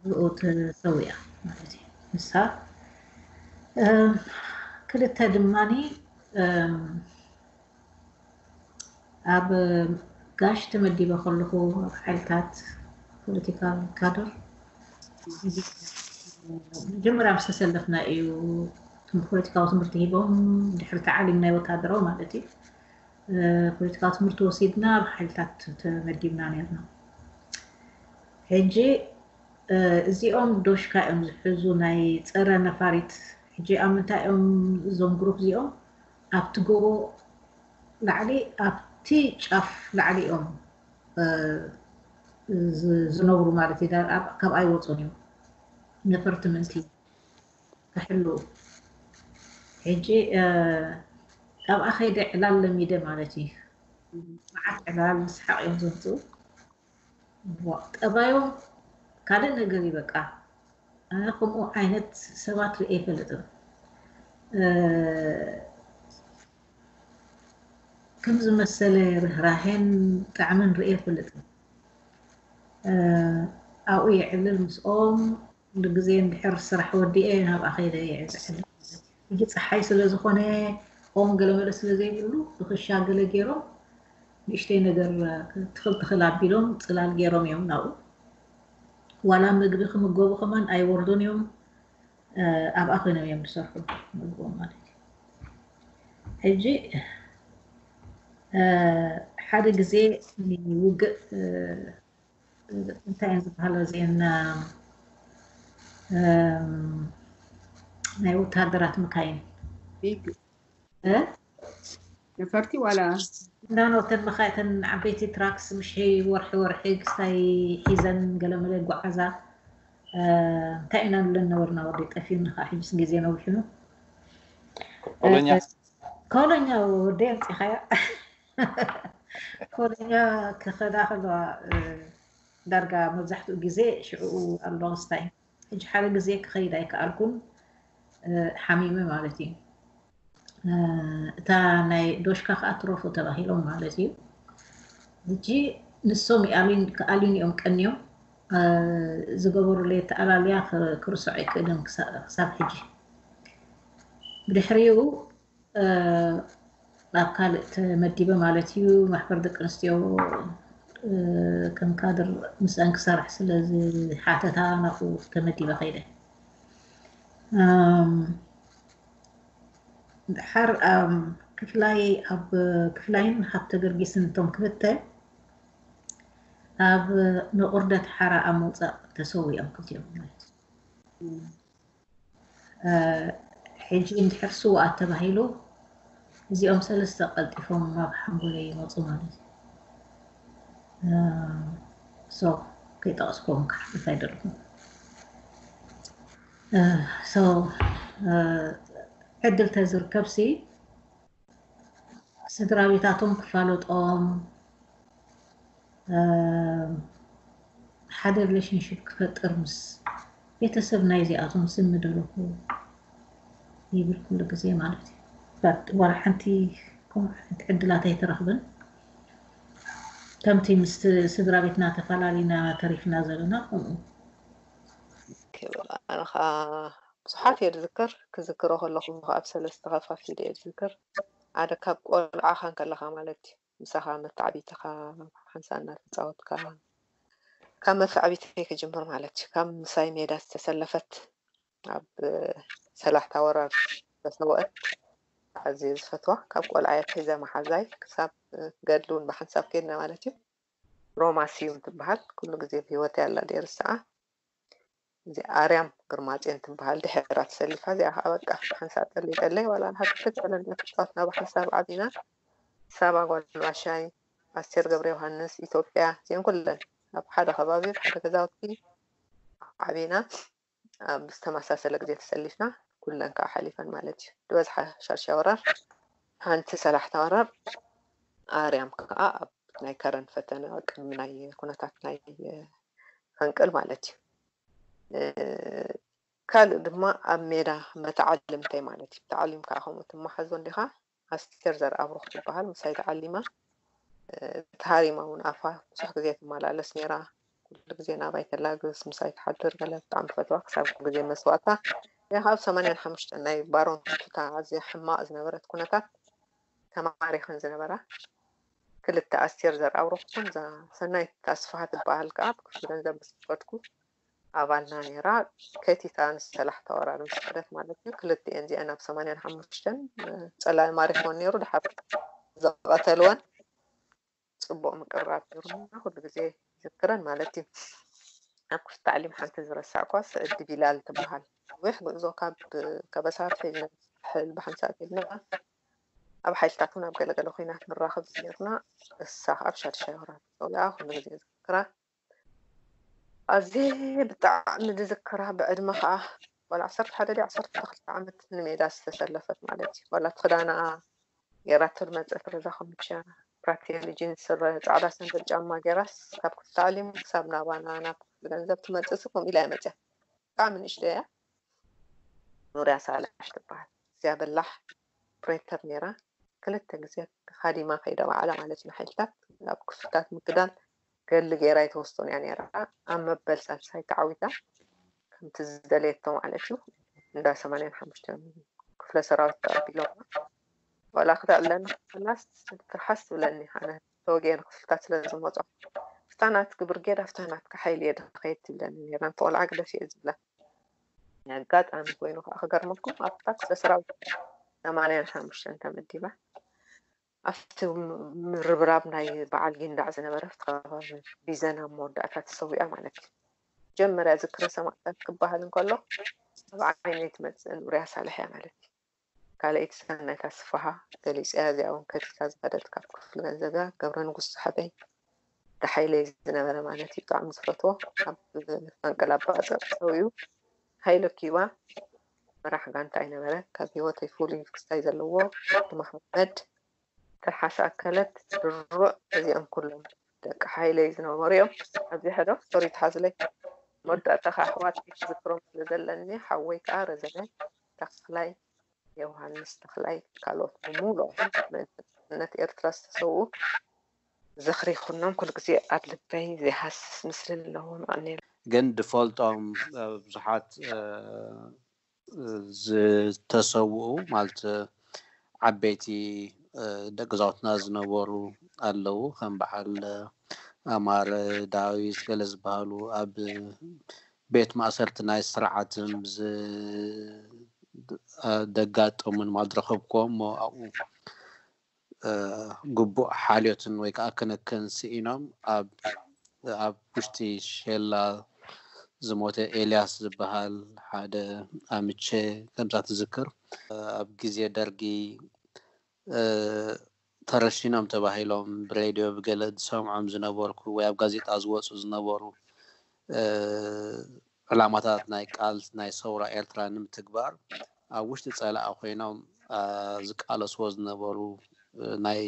ብኡ ተሰዊኣ ማለት እዩ ንሳ ክልተ ድማኒ ኣብ ጋሽ ተመዲበ ከለኹ ኣብ ሓይልታት ፖለቲካል ካድር መጀመርያ ምስ ተሰለፍና እዩ ፖለቲካዊ ትምህርቲ ሂቦም ድሕሪ ተዓሊም ናይ ወታደራዊ ማለት እዩ ፖለቲካዊ ትምህርቲ ወሲድና ኣብ ሓይልታት ተመዲብና ነርና ሕጂ እዚኦም ዶሽካ እዮም ዝሕዙ ናይ ፀረ ነፋሪት ሕጂ ኣብ ምንታይ እዮም እዞም ግሩፕ እዚኦም ኣብቲ ጎቦ ላዕሊ ኣብቲ ጫፍ ላዕሊ እዮም ዝነብሩ ማለት እዩ ካብ ኣይወፁን እዮም ነፈርቲ ምእንቲ ክሕልዉ ሕጂ ኣብኣ ከይደ ዕላል ለሚደ ማለት እዩ መዓት ዕላል ምስሓቅ እዮም ዘምፅኡ ጠባዮም ካልእ ነገር እዩ በቃ ኣነ ከምኡ ዓይነት ሰባት ርእ ኣይፈልጥም ከም ዝመሰለ ርህራሄን ጣዕምን ርእ ኣይፈልጥን ኣብኡ የዕልል ምስኦም ኩሉ ግዜ እንድሕር ስራሕ ወዲኤ ናብኣ ከይደ እየ ዝዕልል ማለት እዩ። ሕጂ ጸሓይ ስለ ዝኾነ ኦም ገለ መለ ስለ ዘይብሉ ብክሻ ገለ ጌሮም ንእሽተይ ነገር ትኽል ትኽል ኣቢሎም ጽላል ጌሮም እዮም ናብኡ ዋላ ምግቢ ክምገቡ ከማን ኣይወርዱን እዮም ኣብኣ ኮይኖም እዮም ዝሰርሑ ምግቦም ማለት እዩ። ሕጂ ሓደ ግዜ ውግእ እንታይ እየን ዝበሃላ እዚኤን ናይ ወተሃደራት መካይን ቢግ እ? ነፈርቲ ዋላ እንዳኖ እተን መካ እተን ዓበይቲ ትራክስ ምሽ ወርሒ ወርሒ ክስታይ ሒዘን ገለመለ ጓዓዛ እ፣ እንታይ ኢና ንብለን ነበርና ወዲ ጠፊኡኒ ከዓ ሕጅስ ግዜ ነዊሑ ኮሎኛ ኮሎኛ ወዲ ኣምፂኻዮ ኮለኛ ክኸዳ ከለዋ ዳርጋ መብዛሕትኡ ግዜ ሽዕኡ ኣብ ሎንግስታይ ሕጂ ሓደ ግዜ ክኸይድ ኣይከኣልኩን ሓሚመ ማለት እዩ እታ ናይ ዶሽካ ከዓ ትረፉ ተባሂሎም ማለት እዩ ሕጂ ንሶም ክኣልዩን እዮም ቀንዮም ዝገበሩለይ ተኣላልያ ክርሶዕ ኣይክእልን ክሳብ ሕጂ ብድሕሪኡ ናብ ካልእ ተመዲበ ማለት እዩ። ማሕበር ደቂ ኣንስትዮ ከም ካድር ምስኣን ክሰርሕ ስለ ዝሓተታ ናብኡ ተመዲበ ከይደ። ድሓር ክፍላይ ኣብ ክፍላይን ሃብተ ገርጊስን እቶም ክልተ ኣብ ንቑርደት ሓራ ኣብ ምውፃእ ተሰዊኦም ክልቲኦም ማለት እዩ። ሕጂ እንድሕር ስውኣት ተባሂሉ እዚኦም ሰለስተ ቀልጢፎም ናብ ሓንጎለይ ይመጹ ማለት እዩ ሶ ከይጠቐስኩም ክሓልፍ ኣይደልኩም ሶ ዕድል ተዝርከብሲ ስድራቤታቶም ክፋለጦም ሓደ ሪሌሽንሽፕ ክፈጥር ምስ ቤተሰብ ናይ እዚኣቶም ስም ምደለኹ ይብል ኩሉ ግዜ ማለት እዩ ባት ዋላ ሓንቲ ከምኡ ዓይነት ዕድላት ኣይተረኽብን ከምቲ ምስ ስድራ ቤትና ተፈላለና ተሪፍና ዘለና ከምኡ ክብላ ኣንኻ ብዙሓት እየ ዝዝክር ክዝክሮ ከለኹ ኸኣ ብ ሰለስተ ከፋፊለ እየ ዝዝክር ሓደ ካብ ቆልዓኻ እንከለኻ ማለት እዩ ምሳኻ መታዕቢትኻ ሓንሳእ እናተጻወትካ ካብ መታዕቢተይ ክጅምር ማለት እዩ ካብ ምሳይ ሜዳ ዝተሰለፈት ኣብ ሰላሕታ ወራር ዝተሰወአት ኣዝየ ዝፈትዋ ካብ ቆልዓ ኣትሒዘ መሓዛይ ክሳብ ገድሊ እውን ብሓንሳብ ከድና ማለት እዩ ሮማ ስዩም ትበሃል ኩሉ ግዜ ብሂወተይ ኣላ ደይርስዓ እዚኣ ኣርያም ግርማጼን ትበሃል ድሒራ ተሰሊፋ እዚኣ ከዓ በቃ ብሓንሳብ ጠሊጠለይ ዋላ ንሓ ክትት ዕለል መተጫወት ናብ ሓንሳብ ዓቢና ሳባ ጓል ባሻይ ኣስቴር ገብረ ዮሃንስ ኢትዮጵያ እዚአን ኩለን ኣብ ሓደ ከባቢ ኣብ ሓደ ገዛውቲ ዓቢና ኣብ ዝተመሳሰለ ግዜ ተሰሊፍና ኩለን ከዓ ሓሊፈን ማለት እዩ ዝበዝሓ ሻርሻ ወራር ሓንቲ ሰላሕታ ወራር ኣርያም ከዓ ኣብ ናይ ከረን ፈተነ ቅድሚ ናይ ኩነታት ናይ ፈንቅል ማለት እዩ። ካልእ ድማ ኣብ ሜዳ መተዓልምተይ ማለት እዩ። ተዓሊምካ ከምኡ ትመሓዞ እንዲኻ። ኣስቴር ዘርኣብሩኽ ትበሃል ምሳይ ተዓሊማ ተሃሪማ እውን ኣፋ ብዙሕ ግዜ ትመላለስ ነይራ። ኩሉ ግዜ ናባይ ተላግስ ምሳይ ትሓድር ገለ ብጣዕሚ ፈትዋ ክሳብ ግዜ መስዋእታ ያኻ ኣብ ሰማንያን ሓሙሽተን ናይ ባሮን ቱታ ኣዝያ ሕማቕ ዝነበረት ኩነታት ተማሪኸን ዝነበራ ክልተ ኣስቴር ዘርኣብሩኽ ትኹን እዛ ሰናይት ኣስፍሃ ትበሃል ከኣ ኣብ ክፍሊ ገንዘብ ምስ ከፈትኩ ኣባልና ነይራ ከቲታ ምስ ሰላሕታ ወራር ምስ ከደት ማለት እዩ ክልቲኤን እዚኣን ኣብ ሰማንያን ሓሙሽተን ጸላኢ ማሪኽወን ነይሩ ድሓር ዘቐተልወን ፅቡቅ ምቅርራብ ነሩና ኩሉ ግዜ ዝክረን ማለት እዩ ኣብ ክፍት ታዕሊም ሓንቲ ዝረሳዕኳ ስዕዲ ቢላል ትበሃል ነዊሕ ጉዕዞ ካብ ከበሳ ሒዝና ሕል ብሓንሳእ ልና ኣብ ሓይልታት ውን ኣብ ገለ ገለ ኩናት ንራኸብ ዝነበርና እሳ ከኣ ኣብ ሻድሻይ ወራር ተጸዊዓ ኩሉ ግዜ ዝዝክራ ኣዝየ ብጣዕሚ ዝዝክራ ብዕድመ ከኣ ዋላ ዓሰርተ ሓደ ድያ ዓሰርተ ክልተ ዓመት ንሜዳ ዝተሰለፈት ማለት እዩ ዋላ እቲ ክዳና ጌራቶ ዝመጸት ረዛ ከምቻ ፕራቴሊ ጂንስ ስረ ጻዕዳ ሰንደል ጫማ ጌራስ ካብ ክፍሊ ታዕሊም ክሳብ ናባና ናብ ክፍሊ ገንዘብ ትመጽእሲ ከምኡ ኢላ እያ መጽያ ብጣዕሚ ንእሽተይ እያ ኑርያ ሳልሕ ትበሃል እዚኣ በላሕ ፕሬተር ኔራ ክልተ ግዜ ኻዲማ ከይዳ ባዕላ ማለት ንሓይልታት ኣብ ክፍልታት ምክዳን ገድሊ ጌራ ኣይተወስቶን እያ ኔራ ኣብ መበል ሳልሳይ ተዓዊታ ከምቲ ዝደለየቶ ማለት እዩ እንዳ ሰማንያን ሓሙሽተን ክፍለ ሰራዊት ተቐቢሎማ ዋላ ክተዕብለኒ ክፍላስ ትርሓስ ትብለኒ ኣነ ተወግኤ ንክፍልታት ስለ ዝመፆ ፍታናት ግብርጌድ ኣብታናት ክሓይል እየ ድኸየድ ትብለኒ ነራ እንተቆልዓ ግደፍ እየ ዝብላ ናይ ኣጋጣሚ ኮይኑ ከዓ ክገርመኩም ኣብታ ክፍለ ሰራዊት ሰማንያን ሓሙሽተን ተመዲባ ኣብቲ ምርብራብ ናይ በዓል ጊንዳዕ ዝነበረ ኣብቲ ከባቢ ቢዘን ኣብ መወዳእታ ተሰዊኣ ማለት እዩ መጀመርያ ዝክረ ሰማእታት ክበሃል እንከሎ ኣብ ዓይነይ ትመፅእን ኡርያ ሳልሕ እያ ማለት እዩ ካልኣይቲ ሰናይት ኣስፍሃ ገሊጸያ እዚኣ ውን ከፊታ ዝኸደት ካብ ክፍሊ ገንዘብያ ገብረንጉስ ሰሕበይ ደሓይለይ ዝነበረ ማለት እዩ ብጣዕሚ ዝፈትዎ ኣብ ፈንቅል ኣባጽዕ ሰውዩ ሃይለ ኪባ መራሕ ጋንታ ኣይነበረ ካብ ህይወተይ ፍሉይ ክስታይ ዘለዎ ወዲ መሓመድ ትርሓስ ኣከለት ድሩዕ እዚኦም ኩሎም ደቂ ሓይለይ ዝነበሩ እዮም ኣብዚ ሕዶ ሶሪ ትሓዝለይ መወዳእታ ከዓ ኣሕዋት ዝክሮም ስለ ዘለኒ ሓወይ ከዓ ረዘነ ተኽላይ ዮውሃንስ ተኽላይ ካልኦት ብምሉኦም ምእንቲ ናጽነት ኤርትራ ዝተሰውኡ ዝኽሪ ኩኖም ኩሉ ግዜ ኣብ ልበይ ዘይሃስስ ምስሊ ኣለዎም ኣቀንየልና። ግን ድፈልጦም ብዙሓት ዝተሰውኡ ማለት ዓበይቲ ደቅዛውትና ዝነበሩ ኣለዉ ከም በዓል ኣማረ ዳዊት ገለ ዝበሃሉ ኣብ ቤት ማእሰርቲ ናይ ስርዓት ዝደጋጠሙን ማድረኸብኮ እሞ ኣብኡ ግቡእ ሓልዮትን ወይ ከዓ ክንክን ስኢኖም ኣብ ኣብ ውሽጢ ሼላ ዝሞተ ኤልያስ ዝበሃል ሓደ ኣምቼ ከምዛ ትዝክር ኣብ ግዜ ደርጊ ተረሺኖም ተባሂሎም ብሬድዮ ብገለ ዝሰምዖም ዝነበርኩ ወይ ኣብ ጋዜጣ ዝወጹ ዝነበሩ ዕላማታት ናይ ቃልሲ ናይ ሰውራ ኤርትራ ንምትግባር ኣብ ውሽጢ ጸላኢ ኮይኖም ዝቃለስዎ ዝነበሩ ናይ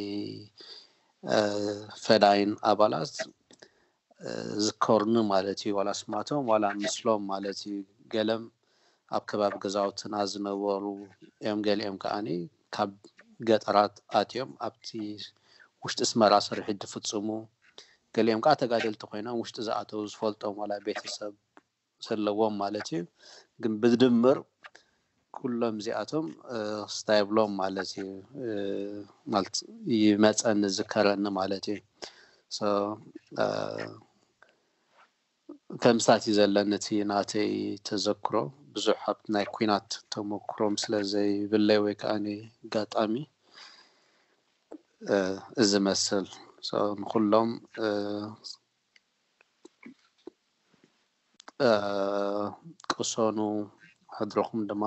ፈዳይን ኣባላት ዝከርኑ ማለት እዩ ዋላ ስማቶም ዋላ ምስሎም ማለት እዩ ገለም ኣብ ከባቢ ገዛውትና ዝነበሩ እዮም ገሊኦም ከኣኒ ካብ ገጠራት ኣትዮም ኣብቲ ውሽጢ ስመራ ስርሒት ድፍጽሙ ገሊኦም ከኣ ተጋደልቲ ኮይኖም ውሽጢ ዝኣተው ዝፈልጦም ዋላ ቤተሰብ ዘለዎም ማለት እዩ ግን ብድምር ኩሎም እዚኣቶም ክስታ የብሎም ማለት እዩ ማለት ይመፀኒ ዝከረኒ ማለት እዩ ከምስታት እዩ ዘለኒ እቲ ናተይ ተዘክሮ ብዙሕ ኣብ ናይ ኩናት ተመክሮም ስለ ዘይብለይ ወይ ከዓ ጋጣሚ እዚ መስል ንኩሎም ቅሰኑ ሕድርኹም ድማ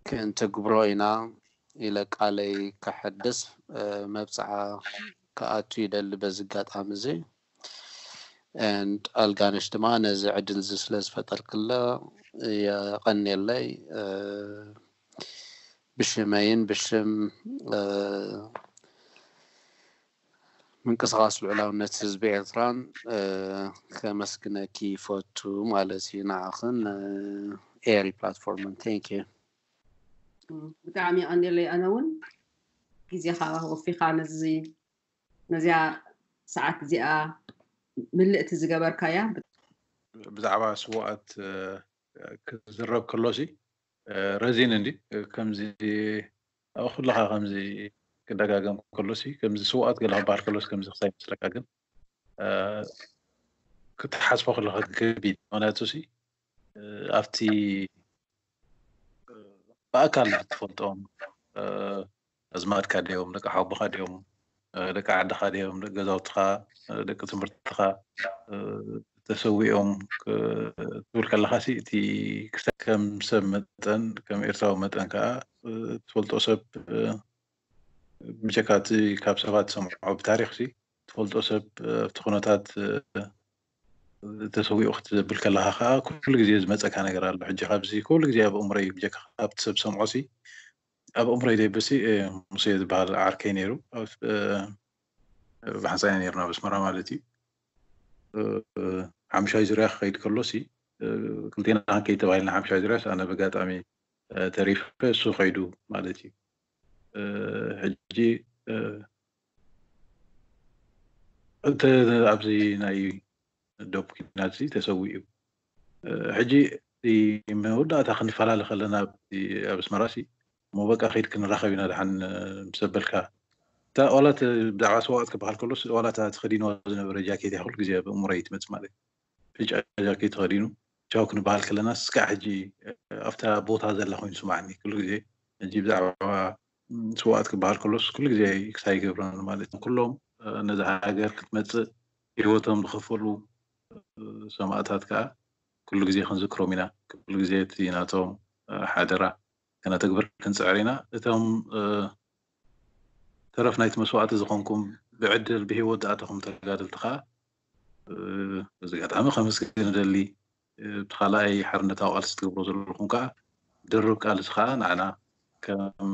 ክንትግብሮ ኢና ኢለ ቃለይ ከሐድስ መብጽዓ ክኣቱ ይደሊ በዚ ኣጋጣሚ እዚ ኣልጋነሽ ድማ ነዚ ዕድል እዚ ስለ ዝፈጠርክለ የቐንየለይ ብሽመይን ብሽም ምንቅስቓስ ልዑላውነት ህዝቢ ኤርትራን ከመስግነኪ ይፈቱ ማለት እዩ ንዓኽን ን ኤሪ ፕላትፎርምን thank you። ብጣዕሚ የቀንየለይ ኣነ ውን ግዜኻ ወፊኻ ነዚ ነዚኣ ሰዓት እዚኣ ምልእቲ ዝገበርካያ። ብዛዕባ ስውኣት ክዝረብ ከሎሲ ረዚን እንዲ ከምዚ ኣብ ኩልኻ ከምዚ ክደጋገም ከሎሲ ከምዚ ስውኣት ገለ ክበሃል ከሎሲ ከምዚ ክሳይ ይመስለካ ግን ክትሓስቦ ከለካ ከቢድ ምክንያቱሲ ኣብቲ ብኣካል ትፈልጦም ኣዝማድካ ድዮም ደቂ ሓቦኻ ድዮም ደቂ ዓድኻ ድዮም ደቂ ገዛውትኻ ደቂ ትምህርትኻ ተሰዊኦም ክትብል ከለኻ ሲ እቲ ክስታ ከም ሰብ መጠን ከም ኤርትራዊ መጠን ከዓ ትፈልጦ ሰብ ብጀካ እቲ ካብ ሰባት ሰምዖ ብታሪክ ሲ ትፈልጦ ሰብ ኣብቲ ኩነታት ተሰዊኡ ክትብል ከለካ ከዓ ኩሉ ግዜ ዝመፀካ ነገር ኣሎ ሕጂ ካብዚ ኩሉ ግዜ ኣብ እምሮይ ብጀካ ካብቲ ሰብ ሰምዖ ሲ ኣብ ኣእምሮይ ደይብሲ ሙሴ ዝበሃል ዓርከይ ነይሩ ብሓንሳእ ኢና ነርና ኣብ ኣስመራ ማለት እዩ ሓምሻይ ዙርያ ክኸይድ ከሎሲ ክልቴና ክንከይድ ተባሂልና ሓምሻይ ዙርያስ ኣነ በጋጣሚ ተሪፈ እሱ ከይዱ ማለት እዩ ሕጂ እንተ ኣብዚ ናይ ዶብ ኩናት እዚ ተሰዊኡ ሕጂ መወዳእታ ክንፈላለ ከለና ኣብ ኣስመራ ሲ እሞ በቃ ከይድ ክንራኸብ ኢና ድሓን ምስ ኣበልካ እታ ዋላ ብዛዕባ ሰዋእት ክበሃል ከሎስ ዋላ እታ ተኸዲንዋ ዝነበረ ጃኬት እያ ኩሉ ግዜ ኣብ እሙረይ ትመጽእ ማለት እዩ ብጫ ጃኬት ተኸዲኑ ቻው ክንበሃል ከለና ስካዕ ሕጂ ኣብታ ቦታ ዘላ ኮይኑ ስማዕኒ ኩሉ ግዜ ሕጂ ብዛዕባ ስዋኣት ክበሃል ከሎስ ኩሉ ግዜ ክሳ ይገብረን ማለት ኩሎም ነዚ ሃገር ክትመጽእ ህይወቶም ዝኸፈሉ ሰማእታት ከኣ ኩሉ ግዜ ክንዝክሮም ኢና፣ ኩሉ ግዜ እቲ ናቶም ሓደራ ከነተግብር ክንጽዕር ኢና። እቶም ተረፍ ናይቲ መስዋእቲ ዝኾንኩም ብዕድል ብህይወት ዝኣተኹም ተጋደልቲ ከኣ በዚ ኣጋጣሚ ከመስግን እደሊ። እቲ ካልኣይ ሓርነታዊ ቃልሲ ትገብሮ ዘለኹም ከኣ ድርብ ቃልሲ ከኣ ንዓና ከም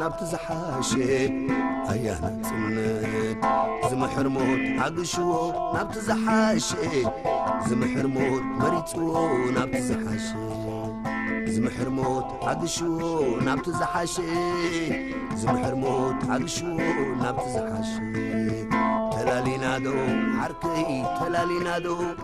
ናብቲ ዝሓሸ ኣያ ናጽነት ዝምሕር ሞት ዓግሽዎ ናብቲ ዝሓሸ ዝምሕር ሞት መሪጽዎ ናብቲ ዝሓሸ ዝምሕር ሞት ዓግሽዎ ናብቲ ዝሓሸ ዝምሕር ሞት ዓግሽዎ ናብቲ ዝሓሸ ተላሊናዶ ዓርከይ ተላሊናዶ